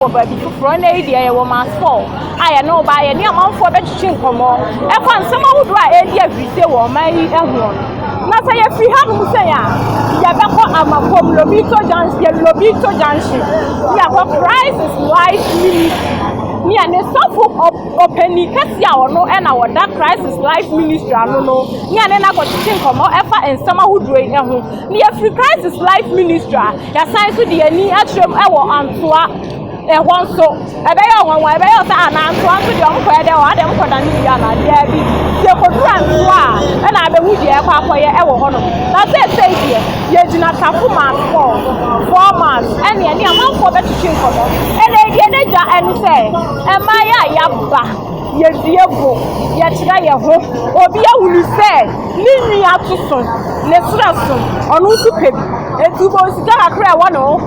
wɔ baabi foforɔ. Ɛna yi deɛ yɛwɔ Mars Paul a yɛne wo baa yɛne amanfoɔ bɛtwetwe nkɔmmɔ ɛfa nsɛm ahodoɔ a ɛredi ahurisie wɔ ɔman yi ɛhoɔ no. Na sɛ yɛfiri hanom sɛn a yɛbɛkɔ Amakom Lobito Junction, yɛ Lobito Junction ne yɛakɔ Christ is Life Ministry ne yɛne sɔfo ɔpani kɛseɛ a ɔno ɛna wɔda Christ is Life Ministry ano no ne yɛne no akɔtwetwe nkɔmmɔ ɛfa nsɛm ahodoɔ yi ɛho. Yɛfiri Crisis Life Ministry a yɛasan nso de yɛn ani akyerɛ mu wɔ Antoa ɛhɔ nso. Ɛbɛyɛ ɔnwanwa, ɛbɛyɛ ɔsɛ a na Antoa nso deɛ wɔkɔyɛ dɛ wɔ ha deɛ wɔkɔda no yie anaa daabi. Sɛ yɛkɔduru Antoa a ɛna abɛhu deɛ yɛkɔ akɔyɛ wɔ hɔnom. Na seesei deɛ yɛgyina Tafomas Falls, Four Miles, ɛne ɛne amanfoɔ bɛtwetwe nkɔmmɔ. Ɛnna deɛ yɛn agya ɛne sɛ, mmaeɛ a yɛaba. Yɛdua bo, yɛkyerɛ yɛn ho. Obi ahunu sɛ ne nwi ato so, ne serɛ so, ɔno nso pɛ bi. Enti wobɛhu sika kakra a ɛwɔ ne ho,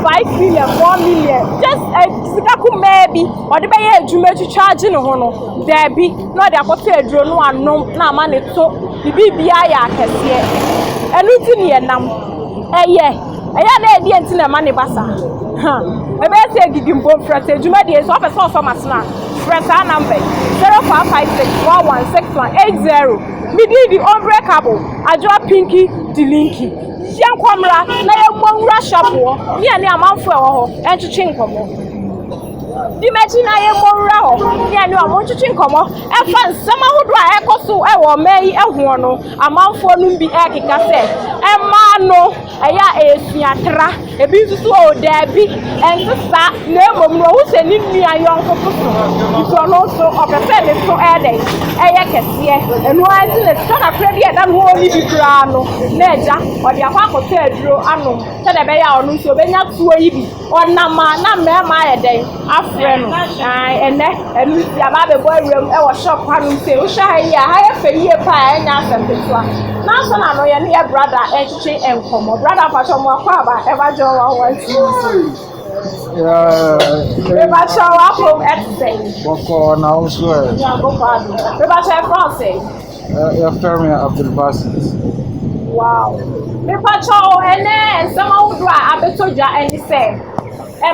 five million, four million, just ɛ, eh, sika kumaa bi, ɔde bɛyɛ adwuma atwitwa agye ne ho no, daabi, na ɔde akɔtɔ aduro no anom na ama ne to, ne biribiara yɛ akɛseɛ. Ɛno nti ne yɛnam, ɛyɛ. Ɛyɛ a na ɛdeɛn nti na ɛma no ba saa? Huh! Ɛbɛyɛ sɛ ɛdidi mpo mfrɛ sɛ adwuma deɛ nso wopɛ sɛ ɔsɔ m'asono a, frɛ saa number yi, 0556116180, me din de Unbreakable Adwoa Pinky Dilinki. Yɛnkɔ mmra na yɛmmɔ nwura shop hɔ ne yɛne amanfoɔ ɛwɔ hɔ ntwetwe nkɔmmɔ. Di m'akyi na yɛmmɔ nwura hɔ ne yɛne wɔn ntwetwe nkɔmmɔ ɛfa nsɛm ahodoɔ a ɛrekɔ so wɔ ɔman yi ho no. Amanfoɔ nom bi ɛkeka sɛ ɛmaa no ɛyɛ a ɛyɛ sua tra, ebi nso so oo daabi ɛnte saa na emom no ɔho hyɛ ne nua yɔnko so so nti ɔno nso ɔpɛ sɛ ne so ɛyɛ dɛn ɛyɛ kɛseɛ ɛno ara nti na sika kakra bi a ɛda no hɔ ɔni bi koraa no na agya ɔde akɔ akɔtɔ aduro anom sɛdeɛ ɛbɛyɛ a ɔno nso obɛnya tuo yi bi. Ɔnam a na mmarima ayɛ dɛn afrɛ no. Ae, ɛnnɛ, ɛno nti aba abɛbɔ awuram wɔ shop hanom sei. Wohwɛ ha yi a, ha yɛ fɛ yie paa, ɛnyɛ asɛm ketewa. Nanso na no yɛne yɛ brada retwetwe nkɔmmɔ. Brada mpakyɛ mo akɔ aba, ɛba gyɛ wɔn wɔn ti nso. Mebakyɛ w'apom ɛte sɛ. Bɔkɔɔ na wo nso ɛ. Nyankopɔn adom. Mebakyɛ ɛfrɛ wo sɛ. Yɛfrɛ me Abdulbasit. Wow. Mepakyɛ o, ɛnɛ nsɛm ahodoɔ a abɛtɔ dwa ne sɛ,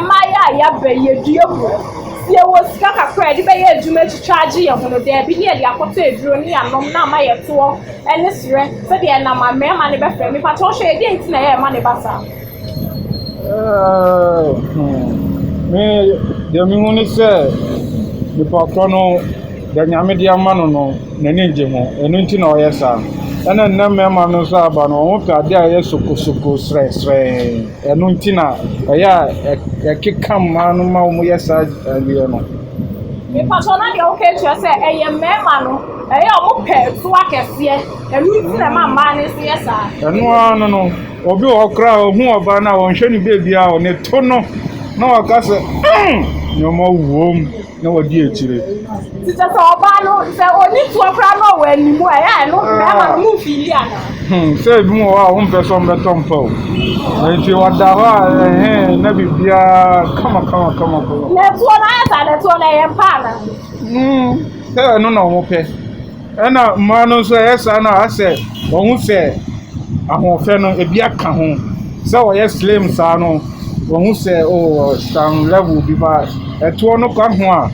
mmayewa a yɛaba yi, yɛdua mu. Sɛ yɛwɔ sika kakra a yɛde bɛyɛ adwuma atwitwa agye yɛn ho no, daabi ne yɛde akɔtɔ aduro ne anom na ama yɛtoɔ ne serɛ sɛdeɛ ɛnam a mmarima no bɛfrɛ. Mepakyɛ wo hwɛ yɛ, deɛ nti na yɛrema no ba saa? Me deɛ mehu ne sɛ, nipa korɔ no, deɛ Nyame de ama no no, n'ani nnye ho, ɛno nti na ɔyɛ saa. Ɛna nnɛ mmarima no nso aba no, wɔn pɛ adeɛ a ɛyɛ sokosoko, srɛsrɛɛ, ɛno nti na ɛyɛ a ɛkeka mmaa no ma wɔyɛ saa adeɛ no. Ɛno nti na ɛma mmaa no nso yɛ saa. Ɛno ara no no, obi wɔ hɔ koraa a ɔhu ɔbaa no a ɔnhwɛ no baabiara a, ne to no na waka sɛ, Umm! Nneɛma wom, na wadi akyire. Nti kyerɛ sɛ ɔbaa no, sɛ ɔnni toɔ koraa na ɔwɔ anim a, ɛyɛ a ɛno mmarima no momfiili anaa? Hmm, sɛ ebi wɔ hɔ a wompɛ sɛ wɔbɛtɔ mpa o. Enti ɔda hɔ a, ɛhɛ, na biribiara kama kama kama kama. Na ɛtoɔ no ayɛ saa, na ɛtoɔ no ɛyɛ mpa anaa? Hmm, sɛ ɛno na wɔpɛ. Ɛna mmaa no nso ɛyɛ saa no a asɛ wɔn ho sɛ ahoɔfɛ no ebi aka ho sɛ wɔyɛ slim saa no wɔn ho sɛ oh scan level bi ba ɛtoɔ no ka ho a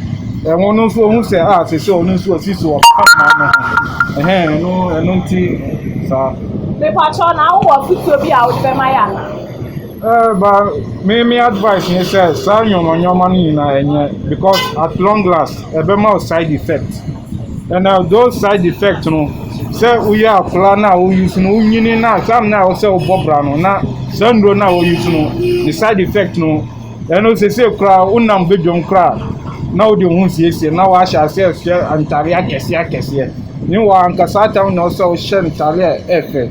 ɛho no nso wɔn ho sɛ a sɛ sɛ ɔno nso ɔsi so ɔka mmaa no ho ɛhɛn ɛno ɛno nti saa. Mepatwɔ na wowɔ afotuo bi a wode bɛma yɛ anaa? Ɛɛ ba me me advice ne sɛ saa nneɛma nneɛma no nyinaa ɛnyɛ because at long last ɛbɛma wo side effect ɛna those side effect no sɛ woyɛ akwadaa no a wo use no wonyini no a time no a ɛwɔ sɛ wobɔ bra no na saa nnuro no a wo use no ne side effect no ɛno sese koraa wonam badwam koraa na wode wo ho siesie na wahyɛ aseɛ hyɛ ntadeɛ akɛseɛ akɛseɛ ne wɔ ankasa time na ɛwɔ sɛ wohyɛ ntadeɛ a ɛfɛ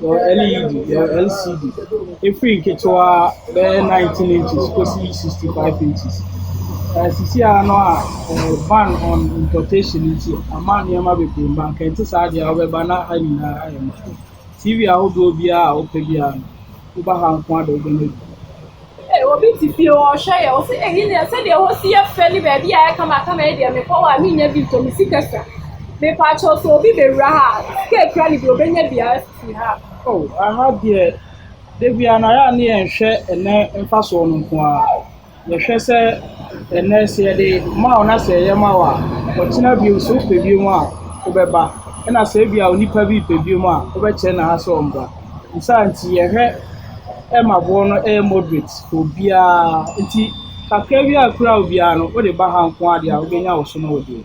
Yɛwɔ LED, yɛwɔ LCD. Ɛfiri nketewa bɛyɛ nineteen inches kɔsi sixty five inches. Ɛɛ sisi ara no a ɛɛ ban on importation nti, ama nneɛma bebree mma. Anka ɛnte saa deɛ a wobɛba na ha nyinaa ayɛ ma wo. TV ahodoɔ biara a wopɛ biara no. Woba ha nko ara na wobɛnya bi. Ee, obi te fie hɔ, ɔhwɛ yɛn, ɔse, Eyi deɛ, sɛdeɛ ɛhɔ si yɛ fɛ ne baabi a ayɛ kamakama yi deɛ, mekɔ hɔ a, mennya bi ntɔ, me sika sua. Mepakyɛw, sɛ obi bɛwura ha a, sika a ekura no deɛ, obɛnya bi afi ha. O, aha deɛ, da biara no, ayɛ a ne yɛnhwɛ ɛnnɛ mfasoɔ no nko ara. yɛhwɛ sɛ ɛnnɛ sɛ yɛde ma wo na sɛ ɛyɛ ma wo a, ɔkyena bio sɛ wopɛ bio a, wobɛba. Ɛna sɛ ebi a onipa bi pɛ bio a, wobɛkyerɛ no ase sɛ ɔmmra. Ne saa nti, yɛhwɛ ma boɔ no yɛ moderate for obiara. Nti kakra bi a ɛkura wo biara no, wode ba ha nko ara deɛ a, wobɛnya wo sono wo deɛ.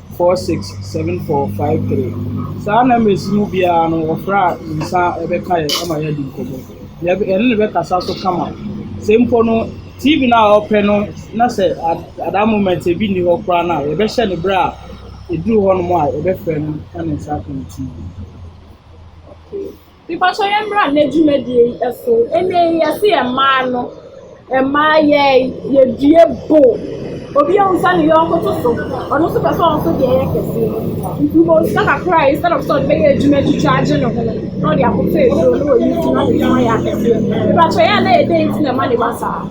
four six seven four five three. Saa numbers yi mu biara no wɔfrɛ a ne nsa bɛka yɛn ama yɛadi nkɔmmɔ. Yɛ yɛne no bɛkasa so kama. Sɛ mpo no TV no a ɔpɛ no na sɛ at at that moment ebi nni hɔ koraa no a, yɛbɛhyɛ no berɛ a ɛduru hɔnom a yɛbɛfrɛ no na ne nsa aka no TV. Okay. Mpakyɛw yɛ mmra nnɛ dwumadie yi so. Nnɛ yi yɛse yɛ mmaa no, mmaa yɛ yɛ due bo. Obi ahu sɛ ne yɔnko to so, ɔno nso pɛ sɛ ɔno nso deɛ yɛ kɛse. Nti wobɔ sika kakra a instead of sɛ ɔde bɛyɛ adwuma atwitwa agye ne ho no, na ɔde akɔtɔ aduro na wayi ti na ɔde ayɛ akɛseɛ. Mpakyɛw yɛ a na yɛ dɛn nti na ɛma ne ba saa?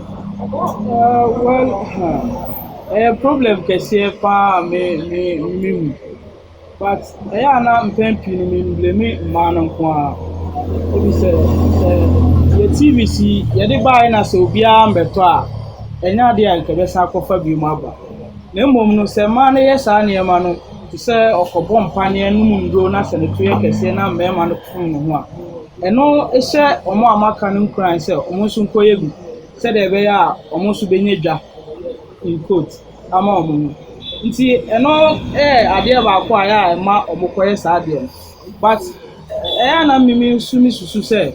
Uh, well, huh. ɛyɛ problem kɛseɛ paa a me me me mu But ɛyɛ a na mpɛn pii no me blame mmaa no nko ara. Ebi sɛ sɛ yɛ TV si yɛde baeɛ na sɛ obiara ammɛtɔ a, ɛnyɛ adeɛ a nka yɛbɛsan akɔfa bio aba. Na mmom no sɛ mmaa no yɛ saa nneɛma no te sɛ ɔkɔbɔ mpaneɛ nom nnuro na sɛ ne to yɛ kɛseɛ na mmarima no fom ne ho a, ɛno hyɛ wɔn a wɔaka no nkuran sɛ wɔn nso nkɔyɛ bi sɛdeɛ ɛbɛyɛ a wɔn nso bɛnya dwa in quote. ama wɔn no. Nti ɛno yɛ adeɛ baako a ɛyɛ a ɛma wɔkɔyɛ saa adeɛ no. But ɛyɛ a na me nso mesusu sɛ,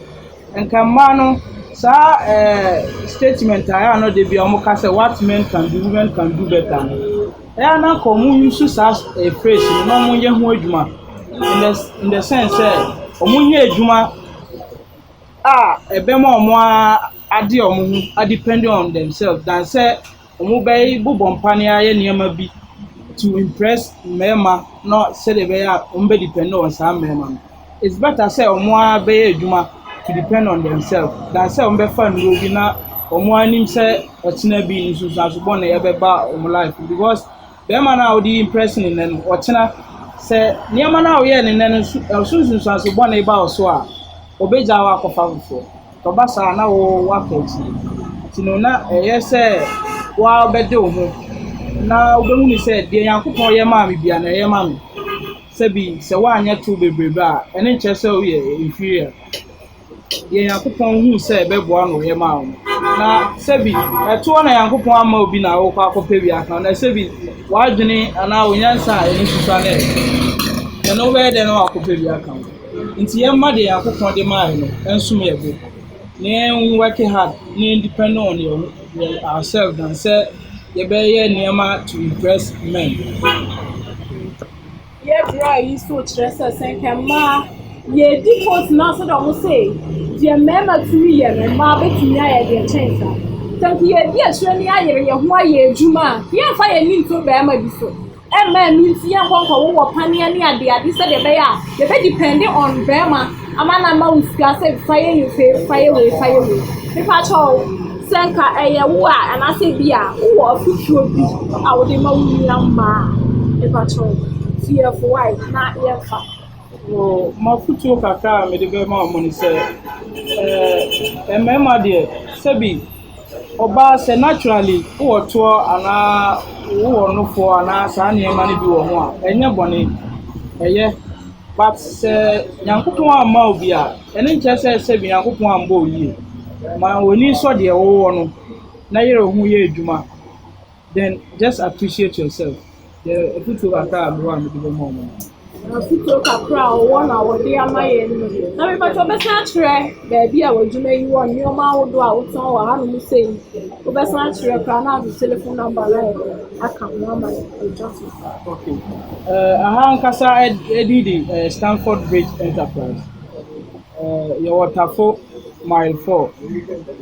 nka mmaa no, saa ɛɛɛ statement a ɛyɛ a na da biara wɔka sɛ what men can do, women can do better no, ɛyɛ a na anka wɔnsusu saa phrase no na wɔnyɛ ho adwuma in the in the sense sɛ, wɔnyɛ adwuma a ɛbɛma wɔn ara ade wɔn ho a depend on themselves than sɛ wɔbɛbobɔ mpaneɛ ayɛ nneɛma bi to impress mmarima na sɛdeɛ ɛbɛyɛ a wɔbɛ depend on saa mmarima no. It's better sɛ wɔn ara bɛyɛ adwuma to depend on themselves than sɛ wɔbɛfa nnuro bi na wɔn ara nim sɛ ɔkyena bi nsunsuanso bɔne bɛba wɔn life mu because. Bɛrima no a wode reimprɛse ne nnɛ no, ɔkyena, sɛ nneɛma no a woyɛɛ no nnɛ no so, ɛso nsunsuanso bɔne ba wo so a, obegyaa wo akɔfa foforɔ. Sɛ ɔba saa a, na wo woaka akyire. Nti no, na ɛyɛ sɛ wo ara wobɛde wo ho na wobɛhunu sɛ deɛ Nyankopɔn yɛ maa me bia na ɛyɛ ma me. Sɛbi sɛ woanyɛ tow bebrebe a, ɛno nkyerɛ sɛ woyɛ inferior. deɛ Nyankopɔn huu sɛ ɛbɛboa no yɛ maa wɔn. Na sɛbi ɛtoɔ na Nyankopɔn ama obi na ɔrekɔ akɔpɛ wiase no, na sɛbi w'adwene anaa wo nyansa a ɛne susua no ɛyɛ, ɛno wobɛyɛ dɛn na woakɔpɛ bi aka ho? Nti yɛmma deɛ Nyankopɔn de maaeɛ no ɛnsom yɛn bo, na yɛn work hard na yɛn depend on yɛn ourselves than sɛ yɛbɛyɛ nneɛma to impress men. Yɛ bra yi so kyerɛ sɛ sɛ nka mmaa yɛdi court na sɛ dɛ ɔmo se deɛ mmarima tumi yɛ no mmaa betumi ayɛ deɛ kyɛn saa sɛ nka yɛdi akyire ne ayere yɛn ho ayɛ adwuma a yɛmfa yɛn ani nto barima bi so ɛmma ɛno nti yɛnkɔ nkɔwowɔ paneɛ ne adeade sɛdeɛ ɛbɛyɛ a yɛbɛ depɛnde on barima. Ama na ama wo sika sɛ fa yɛ yei fei fa yɛ wei fa yɛ wei mepa kyɛw sɛ nka ɛyɛ wo a anaasɛ bi a wowɔ afotuo bi a wode ma wo nua mmaa a mepa kyɛw tiɛfo wae na yɛmfa. Oh, m'afotuo kakra a mede bɛma wɔn ne sɛ, ɛɛ, mmarima deɛ, sɛbi. Ɔbaa sɛ naturally wowɔ toɔ anaa wowɔ nofoɔ anaa saa nneɛma no bi wɔ ho a, ɛnyɛ bɔne, ɛyɛ. But sɛ Nyankopɔn amma wo bi a, ɛno nkyerɛ sɛ sɛbi Nyankopɔn ammɔ wo yie. Ma w'ani nsɔ deɛ wowɔ no na yere wo ho yɛ adwuma. Then just appreciate yourself. Yɛ afutuo kakra a mewɔ a mede bɛma wɔn no. Afutuo kakra a ɔwɔ na ɔde ama yɛn no. Na mepatwa ɔbɛsan akyerɛ baabi a w'adwuma yi wɔ nneɛma ahodoɔ a wotɔn wɔ hanom sɛ yi. Wobɛsan akyerɛ koraa na ade telephone number no ayɛ aka ho ama atwa so. Okay. Uh, aha ankasa ɛdi de uh, Stanford Bridge Enterprise. Ɛɛ, yɛwɔ Tafo Mile Four,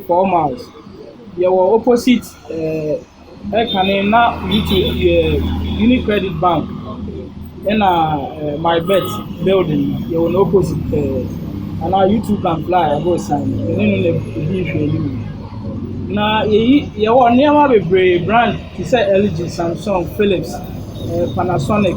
Four Miles. Yɛwɔ opposite ɛɛ ɛkane na UTI ɛɛ Unicredit Bank ɛna ɛɛ MyBet building no, yɛwɔ no opposite pɛɛ. Anaa UTI Bank Fly aborosan no, yɛne no na ɛdi nhwɛanim. Na yɛyi yɛwɔ nneɛma bebree brand te sɛ LG, Samsung, Philips, ɛɛ Panasonic.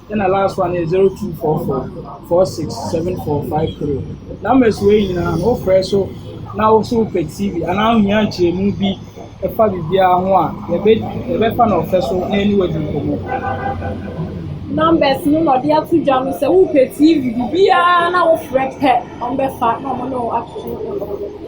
Ɛna last one yɛ zero two four four four six seven four five three. Numbers wei nyinaa no wofrɛ so na woso wopɛ TV anaa wohia nkyerɛmu bi ɛfa biribiara ho a yɛbɛ yɛbɛfa na ɔfɛ so na ɛne wadi nkɔmmɔ. Numbers no na ɔde ato dwa no sɛ wopɛ TV biribiara na wofrɛ pɛ ɔmbɛfa na ɔmo ne wo atoto nkɔmmɔ.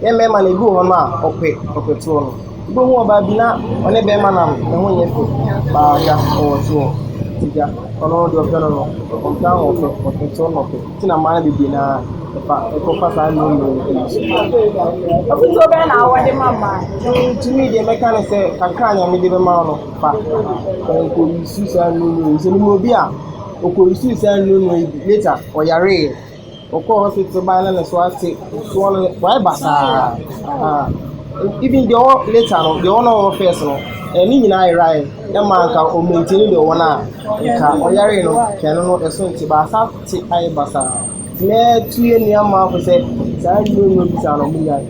Yɛn mmarima no, ebi wɔ hɔ no a, wɔpɛ wɔpɛ toɔ no. Wobɛhu ɔbaa bi na ɔne barima nam, ne ho nyɛ fɛ, baa gya, ɔwɔ toɔ. Nti gya, ɔno deɛ ɔpɛ no no, ɔmpɛ ahoɔfɛ, ɔpɛ toɔ na ɔpɛ. Nti na mmaa no bebree no ara, ɛfa, ɛkɔfa saa nnuro nnuro no bi so. Afotuo bɛn na wɔde ma mmaa? Mm, to me deɛ mɛka ne sɛ, kakra a Nyame de bɛma wo no, fa. Fa nkɔ use saa nnuro nnuro yi. Sɛ menim obi a, ɔkɔ use saa nnuro nnuro yi bi, later ɔyareeɛ. Ɔkɔɔ hospital bae na ne so ate soɔ no wayɛ basaa ah even deɛ ɔwɔ later no deɛ ɔwɔ na ɔwɔ first no eh ne nyinaa yeraeɛ ɛma nka ɔ maintain deɛ ɔwɔ no a nka ɔyaree no nka ɛno no ɛso nte but asa te ayɛ basaa nti mɛtu yɛ nnuammaa fo sɛ saa nnuro nnuro bi saa no ɔmo nyae.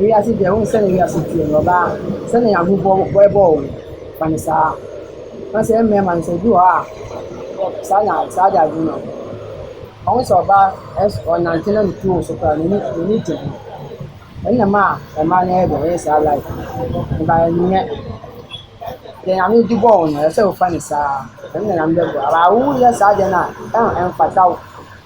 Wiase deɛ wohu sɛdeɛ wiase teɛ no ɔbaa sɛdeɛ ahummɔ bɛbɔ wo no fa no saa na sɛ ɛyɛ mmarima nso ebi wɔ hɔ a saa na saa de adwene no ɔho sɛ ɔbaa ɛs ɔnante na ne tuo wɔ so koraa a n'ani n'ani gye ho ɛnna ɛma mmaa no yɛ dɛ wɔyɛ saa life no but ɛnyɛ deɛ nyame de bɔɔ wo no ɛsɛ sɛ wofa no saa ɛno na nyame bɛboa wo but wowuyɛ saa deɛ no a ɛn ɛmfata wo.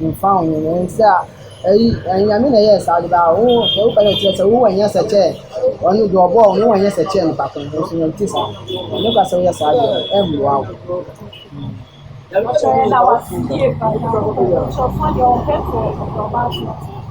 Mfa ho sɛ eyi Nyame na ɔyɛɛ saa ade biara a, wo sɛ woka dɛ kyerɛ sɛ wowɔ nyɛsɛ kyɛɛ ɔno deɛ ɔbɔɔ wo no wowɔ nyɛsɛ kyɛɛ nipa ko no nanso Nyame tse saa. Nyame ka sɛ woyɛ saa deɛ a ɛmmoa wo.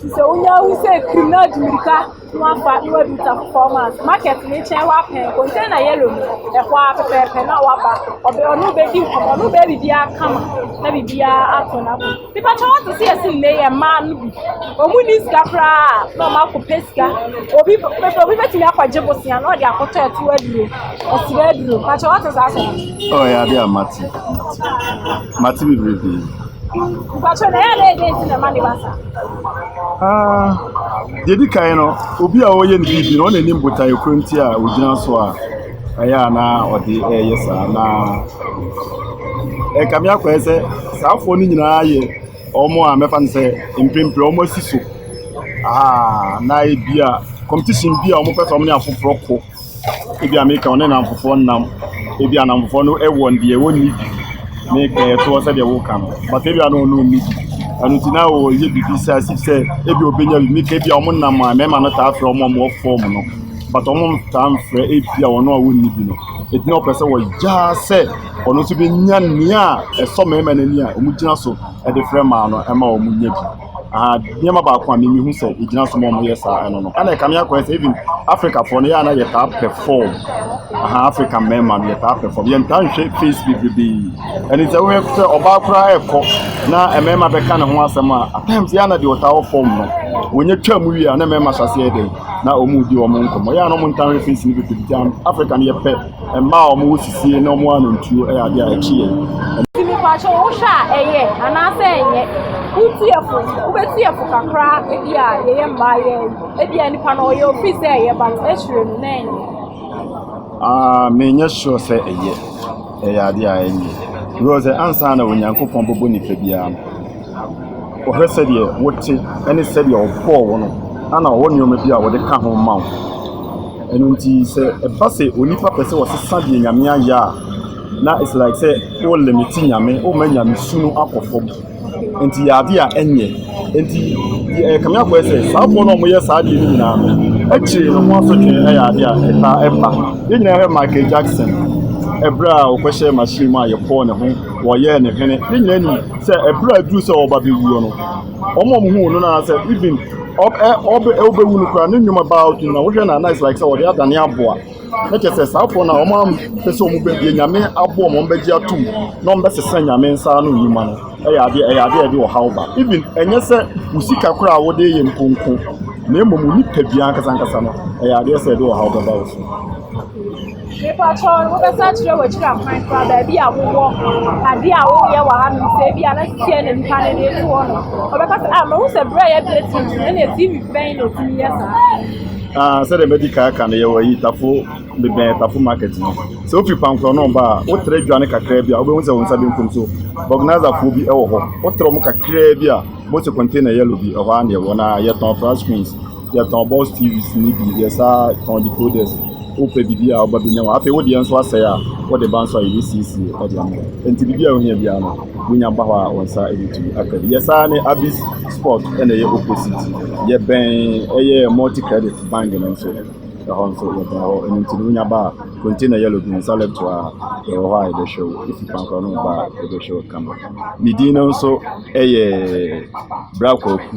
Te sɛ wonya ahu sɛ krim na adi mirika na wafa na wadu ta performance market ne kyɛn wapɛn container yellow no ɛhɔ ara pɛpɛɛpɛ na waba ɔbɛ ɔno bɛdi nkɔmɔ ɔno bɛyɛ biribiara kama na biribiara ato na ko nipa kyɛ wɔte sɛ yɛsi nne yɛ mmaa no bi ɔmu ni sika koraa na ɔmo akɔ pɛ sika obi pɛpɛ obi bɛtumi akɔgye bosea na ɔde akɔtɔ ɛto aduro ɔsira aduro pakyɛ wɔte saa sɛ. ɔyɛ ade a mate mate mate bebrebe. Deɛ ɛdi kan no, obi a ɔreyɛ ne biribi no, ɔno na ɔnim botaeɛ korɔ nti a ɔgyina so a ɛyɛ a na ɔde reyɛ saa. Na ɛkame akɔ ayɛ sɛ saafoɔ no nyinaa yɛ wɔn a mɛfa no sɛ mprempren wɔasi so. Aha na ebia competition bi a wɔpɛ sɛ wɔne afoforɔ ko. Ebi a meka ɔne nnamfofoɔ nam, ebi a nnamfofoɔ no wɔ deɛ wɔnni bi, meka ɛtoɔ sɛdeɛ woka no, but ebi a na ɔno ɔnni bi, ɛno nti na ɔyɛ biribi sɛ asif sɛ ebi a ɔbɛnya bi, meka ebi a wɔn nam a mmarima no taa frɛ wɔn a wɔwɔ fam no, but wɔntaa mfrɛ ebi a wɔn a wɔnni bi no, nti na wɔpɛ sɛ wɔgya sɛ ɔno nso bɛnya nea ɛsɔ mmarima no ani a wɔgyina so de frɛ mmaa no ma wɔnya bi. Ahaa nneɛma baako a me me hu sɛ egyina so ma ɔmo yɛ saa ɛno no ɛna ɛkame akɔyɛ sɛ even Africa foɔ no yɛ a na yɛtaa perform ahaa Africa mmarima no yɛtaa perform yɛntaa nhwɛ face bebrebee ɛne sɛ wohwɛ sɛ ɔbaa koraa ɛkɔ na mmarima bɛka ne ho asɛm a at times yɛ a na deɛ ɔtaa wɔ fam no wɔnyɛ twa mu wie a na mmarima hyɛ aseɛ dɛn na ɔmo di ɔmo nkɔmɔ yɛ a na ɔmo ntaa nhwɛ face no bebrebee Africa no yɛpɛ Mmaa a wɔwɔ sisie na wɔwɔ anantuo yɛ adeɛ a ɛkye yɛn. Nti mepakyɛ wo hwɛ a ɛyɛ anaasɛ ɛnyɛ wotie fo wobɛtie fo kakra ebi a yɛyɛ mmaa yɛ ebi a nipa no ɔyɛ ofi sɛ ɛyɛ ba no ɛhyerɛ mu na ɛnyɛ. Ah, menyɛ sure sɛ ɛyɛ ɛyɛ adeɛ a ɛnyɛ because ansa na Onyankopɔn bɛbɔ nipa biara no Ɔhwɛ sɛdeɛ wote ne sɛdeɛ ɔbɔɔ wo no, ɛna ɔwɔ nneɛma bi a ɔde ka ho ma wo. Ɛno nti sɛ ɛba sɛ onipa pɛ sɛ ɔsesa deɛ Nyame ayɛ a, na it's like sɛ wo limit Nyame, woma Nyamesu no akɔ fam. Nti yɛ adeɛ a ɛnyɛ. Nti ɛyɛ Kame Afɔɛ sɛ saafoɔ no a wɔyɛ saa adeɛ no nyinaa no, akyire no ho asotwe yɛ adeɛ a ɛtaa ɛba. Yɛn nyinaa hwɛ Michael Jackson, ɛberɛ a ɔkɔhyɛɛ machine mu a yɛpɔɔ ne ho. wɔyɛɛ no hene. Ne nyinaa nim sɛ ɛberɛ a aduru sɛ ɔba bɛwuo no, wɔn a wɔhuu no no anaasɛ even ɔbɛwu no koraa ne nnwuma baa ɔto nyina wohwɛ no a na it's like sɛ wɔde adane aboa na kyɛ sɛ saa foɔ no a wɔn ampɛ sɛ wɔn bɛdeɛ nyame aboɔ wɔn bɛgye atom na wɔn bɛsesa nyame nsa ano nnwuma no ɛyɛ adeɛ ɛyɛ adeɛ ɛde ɔhaw ba even ɛnyɛ sɛ wo sika koraa a wode yɛ nkonko na mmom nipa bi ankasa ankasa no ɛyɛ adeɛ sɛ ɛde ɔhaw bɛba wo so Mepakyɛw no, wobɛsan akyerɛ w'akyiri akwan koraa, baabi a wowɔ, ade a woyɛ wɔ hanom, sɛ ebi a na seesei na nnipa no de etu hɔ no. Wɔbɛka sɛ, ah, mahu sɛ bere a yɛbrɛ TV no, ɛnna TV bɛn na etumi yɛ saa. Ah, sɛdeɛ madi kan aka no, yɛwɔ ayi tafo, mebɛn tafo market no. Sɛ wofi Kwankorɔnom ba a, wotrɛ dwane kakraa bi a, wobɛhu sɛ wo nsa benkum so, vulcanizer-foɔ bi wɔ hɔ. Wotrɛ mu kakraa bi a, wobɛhu sɛ container yellow bi, ɛhɔ ara na yɛwɔ, na yɛtɔn flat screens. Yɛtɔn box TVs no bi, yɛsaa tɔn decoders. Wopɛ biribi a woba bɛnya wɔ. Afei wo deɛ nso asɛe a, wode ba nso a yɛbɛsiesie de ama wo. Enti biribi a wohia biara no, wonya ba hɔ a wo nsa bɛtumi aka bi. Yɛsaa ne Abis Sport na ɛyɛ opposite. Yɛbɛn ɛyɛ Multi Credit Bank no nso, ɛhɔ nso yɛbɛn hɔ. Ɛno nti no wonya ba a, container yellow bi no nsa left hɔ a, yɛwɔ hɔ a yɛbɛhwɛ wo. Wofi Pankora no ba a, yɛbɛhwɛ wo kama. Me din no nso yɛ Bra Kwaku.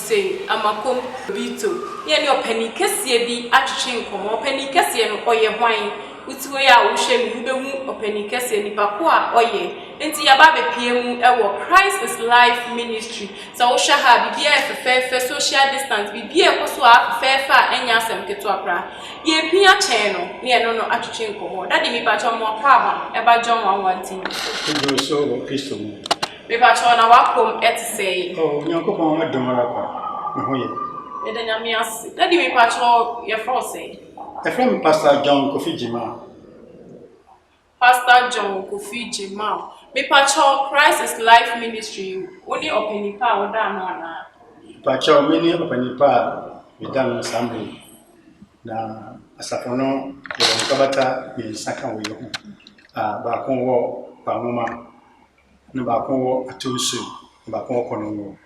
Sɛ Amakom Obito ne ɛne ɔpanin kɛseɛ bi atwetwe nkɔmmɔ, ɔpanin kɛseɛ no, ɔyɛ hwan? Wote hɔ yi a wohwɛ no, wobɛhu ɔpanin kɛseɛ, nipa ko a ɔyɛ. Enti yɛaba abɛpia mu wɔ Christ is Life Ministry. Sɛ wohwɛ ha a, biribiara yɛ fɛfɛɛfɛ, social distance, biribiara ɛkɔ so ara fɛfɛɛfɛ a ɛnyɛ asɛm ketewa koraa. Yɛrepia kyɛn no, ne yɛne no atwetwe nkɔmmɔ. Daddy, mepakyɛ wo, mmoa kwaaba, ɛba John nwanwa nti. Woduru soro wɔ Kristo mu. Mepakyɛw na w'apɔm te sɛɛ yi. Oh Onyankopɔn w'adom ara kwa me ho yɛ. Meda Nyame ase. Daddy mepakyɛw yɛfrɛ wo sɛn? Yɛfrɛ me Pastor John Kofi Gyimah. Pastor John Kofi Gyimah. Mepakyɛw Christ is Life Ministry wo ne ɔpanyin pa a woda ano anaa? Mepakyɛw me ne ɔpanyin pa a meda ano saa mmerɛ yi. Na asafo no yɛwɔ nkrabata mmiɛnsa ka wei ho. Ah baako wɔ Kwanwoma. Na baako wɔ Atew so, na baako wɔ Kɔnɔngo.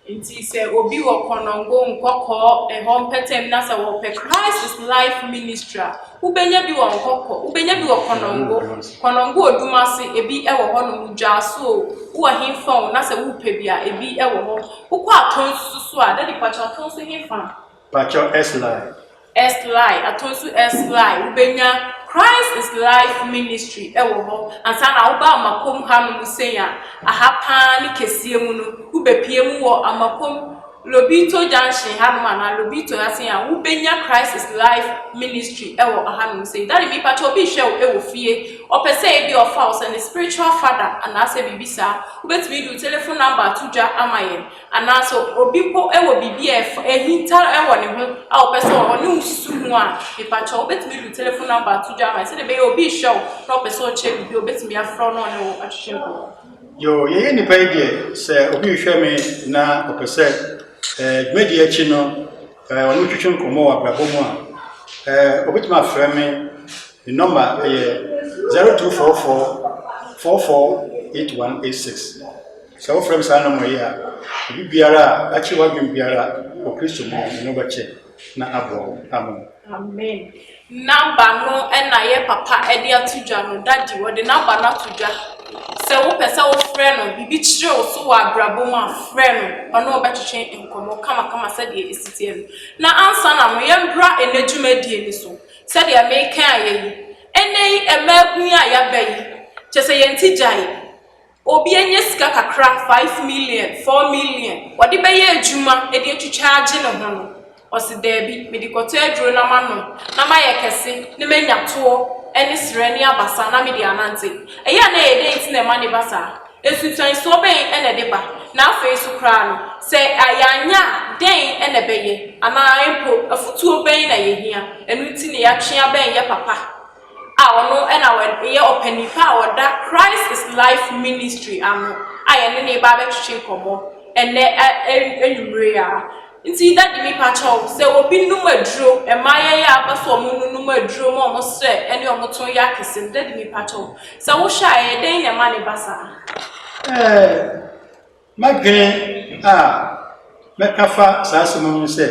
Nti sɛ obi wɔ Kɔnɔngo, Nkɔkɔɔ, ɛhɔ mpɛtɛm na sɛ wɔpɛ Christ is Life Ministry a, wobɛnya bi wɔ Nkɔkɔ, wobɛnya bi wɔ Kɔnɔngo, Kɔnɔngo oduma ase, ebi wɔ hɔ nom, dwaaso o, wowɔ hefa o, na sɛ wopɛ bi a, ebi wɔ hɔ. Wokɔ atɔn nso so a, dadi pakyɛ atɔn nso hefa? Pakyɛw S line. S line ato nso S line wobɛnya Christ is life ministry wɔ hɔ ansa na woba amakom ha no mu sɛn a aha paa ne kɛseɛ mu no wobɛpie mu wɔ amakom Lobito junction ha nom anaa Lobito ha sɛn a wobɛnya Christ is life ministry wɔ aha nom sɛn dade mi pakyɛ obi hwɛ wo wɔ fie ɔpɛ sɛ ebi ɔfa wo sɛ ne spiritual father anaasɛ biribi saa wobɛtumi de wo telephone number ato dwa ama yɛn Anaa sɛ obi mpo wɔ biribi a ɛfa ahinta wɔ ne ho a ɔpɛ sɛ ɔne wo susu ho a, mepakyɛ wobɛtumi de wo telefon nɔmba ato dwa ama no sɛdeɛ ɛbɛyɛ obi rehwɛ wo na ɔpɛ sɛ ɔkyɛ biribi a obɛtumi afrɛ wo na ɔne wo atwetwe nkɔmmɔ. Yoo, yɛyɛ nnipa yi deɛ, sɛ obi rehwɛ me na ɔpɛ sɛ eh, dwumadie akyi no eh, ɔne twetwe nkɔmmɔ wɔ abrabɔ mu a, eh, ɔbɛtumi afrɛ me. Me nɔmba yɛ 0244 448186. Sɛ wofrɛ me saa nɔma yi a, biribiara a akye w'adwene biara wɔ Kristo mu no, ɛno bɛkye na aboa wo. Amen. Amen. Naba no na yɛ papa de ato dwa no, dadi wɔde naba no ato dwa. Sɛ wopɛ sɛ wofrɛ no, biribi kyerɛ wo so wɔ abrabɔ mu a, frɛ no, ɔne wo bɛtwetwe nkɔmmɔ kamakama sɛdeɛ ɛsi teɛ no. Na ansa na no, yɛmbra ɛnɛ dwumadie no so. Sɛdeɛ meka ayɛ yi, ɛnɛ yi, mmaa kun yi a yɛaba yi, kyɛ sɛ yɛn ti gyae. Obi anya sika kakra, five million, four million, ɔde bɛyɛ adwuma de atwitwa agye ne ho no, ɔse daabi, mede kɔtɔ aduro na manom na mayɛ kɛse na manya toɔ ne serɛ ne abasa na mede anante. Ɛyɛ a na ɛyɛ dɛn nti na ɛma ne ba saa? Nsunsuansoɔ bɛn na ɛde ba? Na afei nso koraa no, sɛ yɛanyɛ a, dɛn na ɛbɛyɛ? Anaa mpo afotuo bɛn na yɛhia? Ɛno nti na yɛatwe abɛn yɛ papa. a ɔno na ɔyɛ ɔpanyin pa a ɔda Christ is Life Ministry ano a yɛne no reba abɛtwetwe nkɔmmɔ ɛnnɛ anwummere yi ara. Nti Daddy mepa kyɛw, sɛ obi nom aduro, mmaayɛ yi a aba so wɔn nonom aduro ma wɔn srɛ ɛne wɔn to yɛ akɛse no, Daddy mepa kyɛw, sɛ wohwɛ a ɛyɛ dɛn na ɛma no ba saa? Ɛɛ. M'adwene a mɛka fa saa asɛm ho ne sɛ,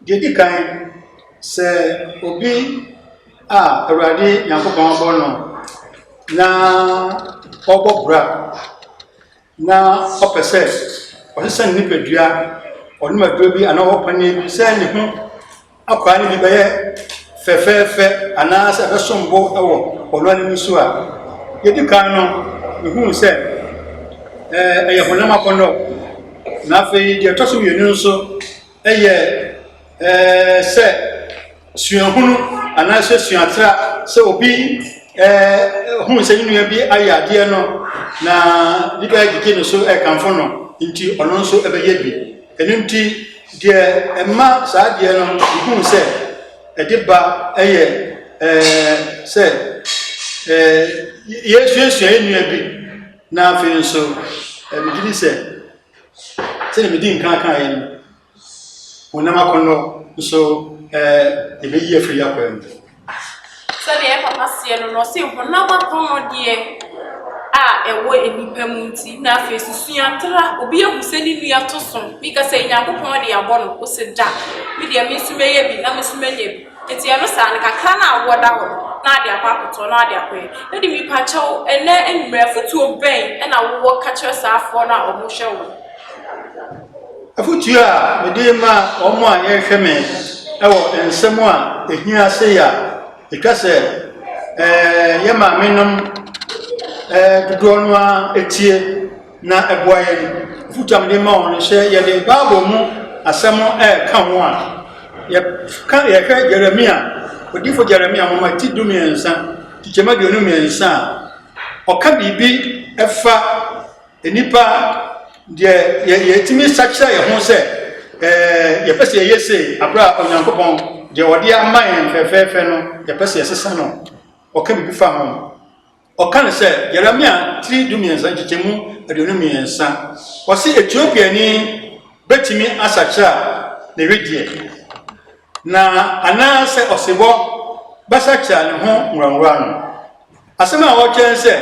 deɛ ɛdi kan, sɛ obi a Awurade Nyankopɔn abɔ no na ɔbɔ bra na ɔpɛ sɛ ɔsesa ne nipadua, ɔnom aduro bi anaa ɔwɔ paneɛ bi sɛ ne ho akwadaa no bi bɛyɛ fɛfɛɛfɛ anaasɛ ɛbɛsom bo wɔ ɔno anim so a, yɛdi kan no, mehuu sɛ ɛyɛ honam akɔnnɔ. Na afei deɛ ɛtɔ so mmienu nso yɛ sɛ suahunu anaasɛ suatra sɛ obi hunu sɛ ne nua bi ayɛ adeɛ no na ne bɛyɛ gyegye ne so ɛkamfo no nti ɔno nso ɛbɛyɛ bi. Ɛno nti, deɛ ɛma saa adeɛ no mehuu sɛ ɛde ba yɛ sɛ yɛsuasua yɛn nua bi, na afei nso megye di sɛ sɛdeɛ medi nkan kan yɛn no honam akɔnnɔ nso yɛbɛyi afiri yɛn akwan mu. Sɛdeɛ yɛn papa seɛ no no, ɔse honam akɔnnɔdeɛ a ɛwɔ nnipa mu nti, na afei so suatra, obi ahu sɛ ne nua to so, meka sɛ Nyankopɔn de abɔ no, ose da, me deɛ me nso mɛyɛ bi na me nso manya bi. Nti ɛno saa no, kakra no a wowɔ da hɔ no, na ade akɔ akɔtɔ, na ade akɔyɛ. Daddy mepakyɛw, ɛnnɛ anwummerɛ, afotuo bɛn na wowɔ ka kyerɛ saa afoɔ no a wɔhwɛ wo no? Afotu a mede rema wɔn a wɔrehwɛ me wɔ nsɛm a ehia sei a etwa sɛ yɛn maamenom dodoɔ no ara tie na ɛboa yɛn. Afotu a mede ma wɔn no sɛ yɛde Bible mu asɛm ka ho a, yɛka yɛhwɛ Jeremia, odifo Jeremia nwoma ti du mmiɛnsa, kyekyɛm aduonu mmiɛnsa a, ɔka biribi fa Nnipa deɛ yɛ yɛtumi sakyera yɛn ho sɛ ɛɛ yɛpɛ sɛ yɛyɛ sei abere a Onyankopɔn deɛ ɔde ama yɛn fɛfɛɛfɛ no yɛpɛ sɛ yɛsesa no. Ɔka biribi fa ho. Ɔka no sɛ Yeremia tiri du mmiɛnsa nkyekyɛmu aduonu mmiɛnsa. Ɔsi Etiopiani betumi asakyera ne wedeɛ. Na anaa sɛ ɔsebɔ basa kyea ne ho nwuranwura no. Asɛm a ɔrekyerɛ ne sɛ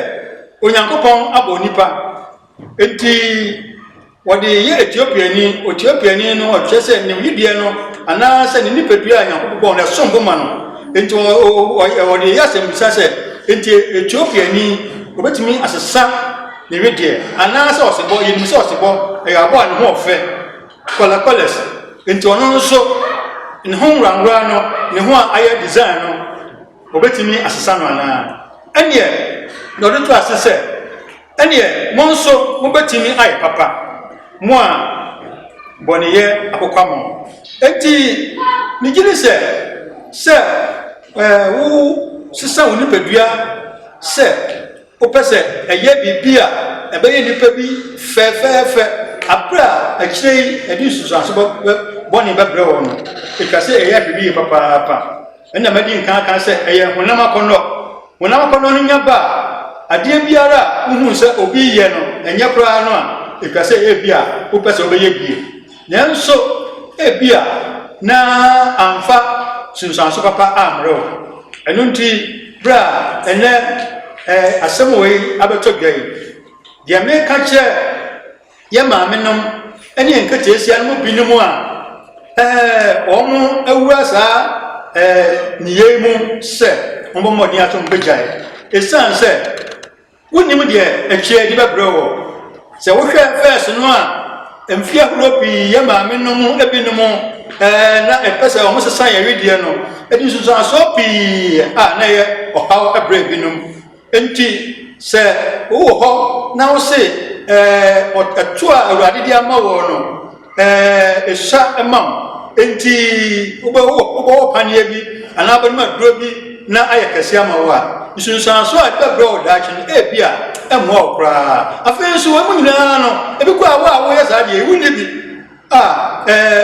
Onyankopɔn abɔ onipa. Enti wɔde yɛ Etiopiani. Etiopiani no ɔkyerɛ sɛ ne wedeɛ no anaa sɛ ne nipadua a Nyankopɔn bɔ no ɛsom bo ma no. Enti wɔde yɛ asɛmmisa sɛ enti Etiopiani obetumi asesa ne wedeɛ anaa sɛ ɔsebɔ. Yɛnim sɛ ɔsebɔ ɛyɛ aboa a ne ho ɔfɛ. Kɔlɛkɔlɛs nti ɔno nso ne ho nworangora no ne ho a ayɛ design no wɔbɛtumi asesa no anaa? Ɛneɛ na ɔde to ase sɛ ɛneɛ mo nso mobɛtumi ayɛ papa mo a bɔneyɛ akokwa mo. Enti megye di sɛ sɛ wo sesa wo nipadua sɛ Wopɛ sɛ ɛyɛ biribi a ɛbɛyɛ nnipa bi fɛfɛɛfɛ bere a akyiri yi ɛde nsunsuanso bɔne bɛbrɛ wɔn no, ɛtwa sɛ ɛyɛ ahwɛ yiye papaapa. Ɛna madi nkan aka sɛ ɛyɛ honam akɔnnɔ. Honam akɔnnɔ no nya ba a, adeɛ biara a wohu sɛ obi reyɛ no ɛnyɛ koraa no a, ɛtwa sɛ ebia wopɛ sɛ wobɛyɛ bi. Nanso ebia na amfa nsunsuanso papa ammrɛ wo. Ɛno nti, berɛ a ɛnɛ eh, asɛm wei abɛtɔ dwa yi, deɛ meka kyerɛ yɛ maamenom ne yɛn nketeesia no mu binom a eh, wɔn awura saa eh, nneyɛe mu sɛ wɔbɔ mmɔden ato wɔn bɛgyae. Ɛsiane sɛ Wonnim deɛ akyire yi de bɛbrɛ woɔ. Sɛ wohwɛ vɛɛse no a, mfeɛ ahoroɔ pii yɛn maame no mu binom na ɛpɛ sɛ wɔsesa yɛn wedeɛ no de nsunsuansoɔ pii a na ɛyɛ ɔhaw brɛ binom. Enti sɛ wowɔ hɔ na wose ɛto a Awurade de ama woɔ no, Ɛhyɛ ma wo. Enti wobɛwɔ paneɛ bi anaa wobɛnom aduro bi na ayɛ kɛse ama wo a, nsunsuanso a ɛbɛbrɛ wɔ daakye no, ebi a ɛmmoa wo koraa. Afei nso, wɔn nyinaa no, ebi kɔ a wo a woyɛ saa deɛ wonni bi a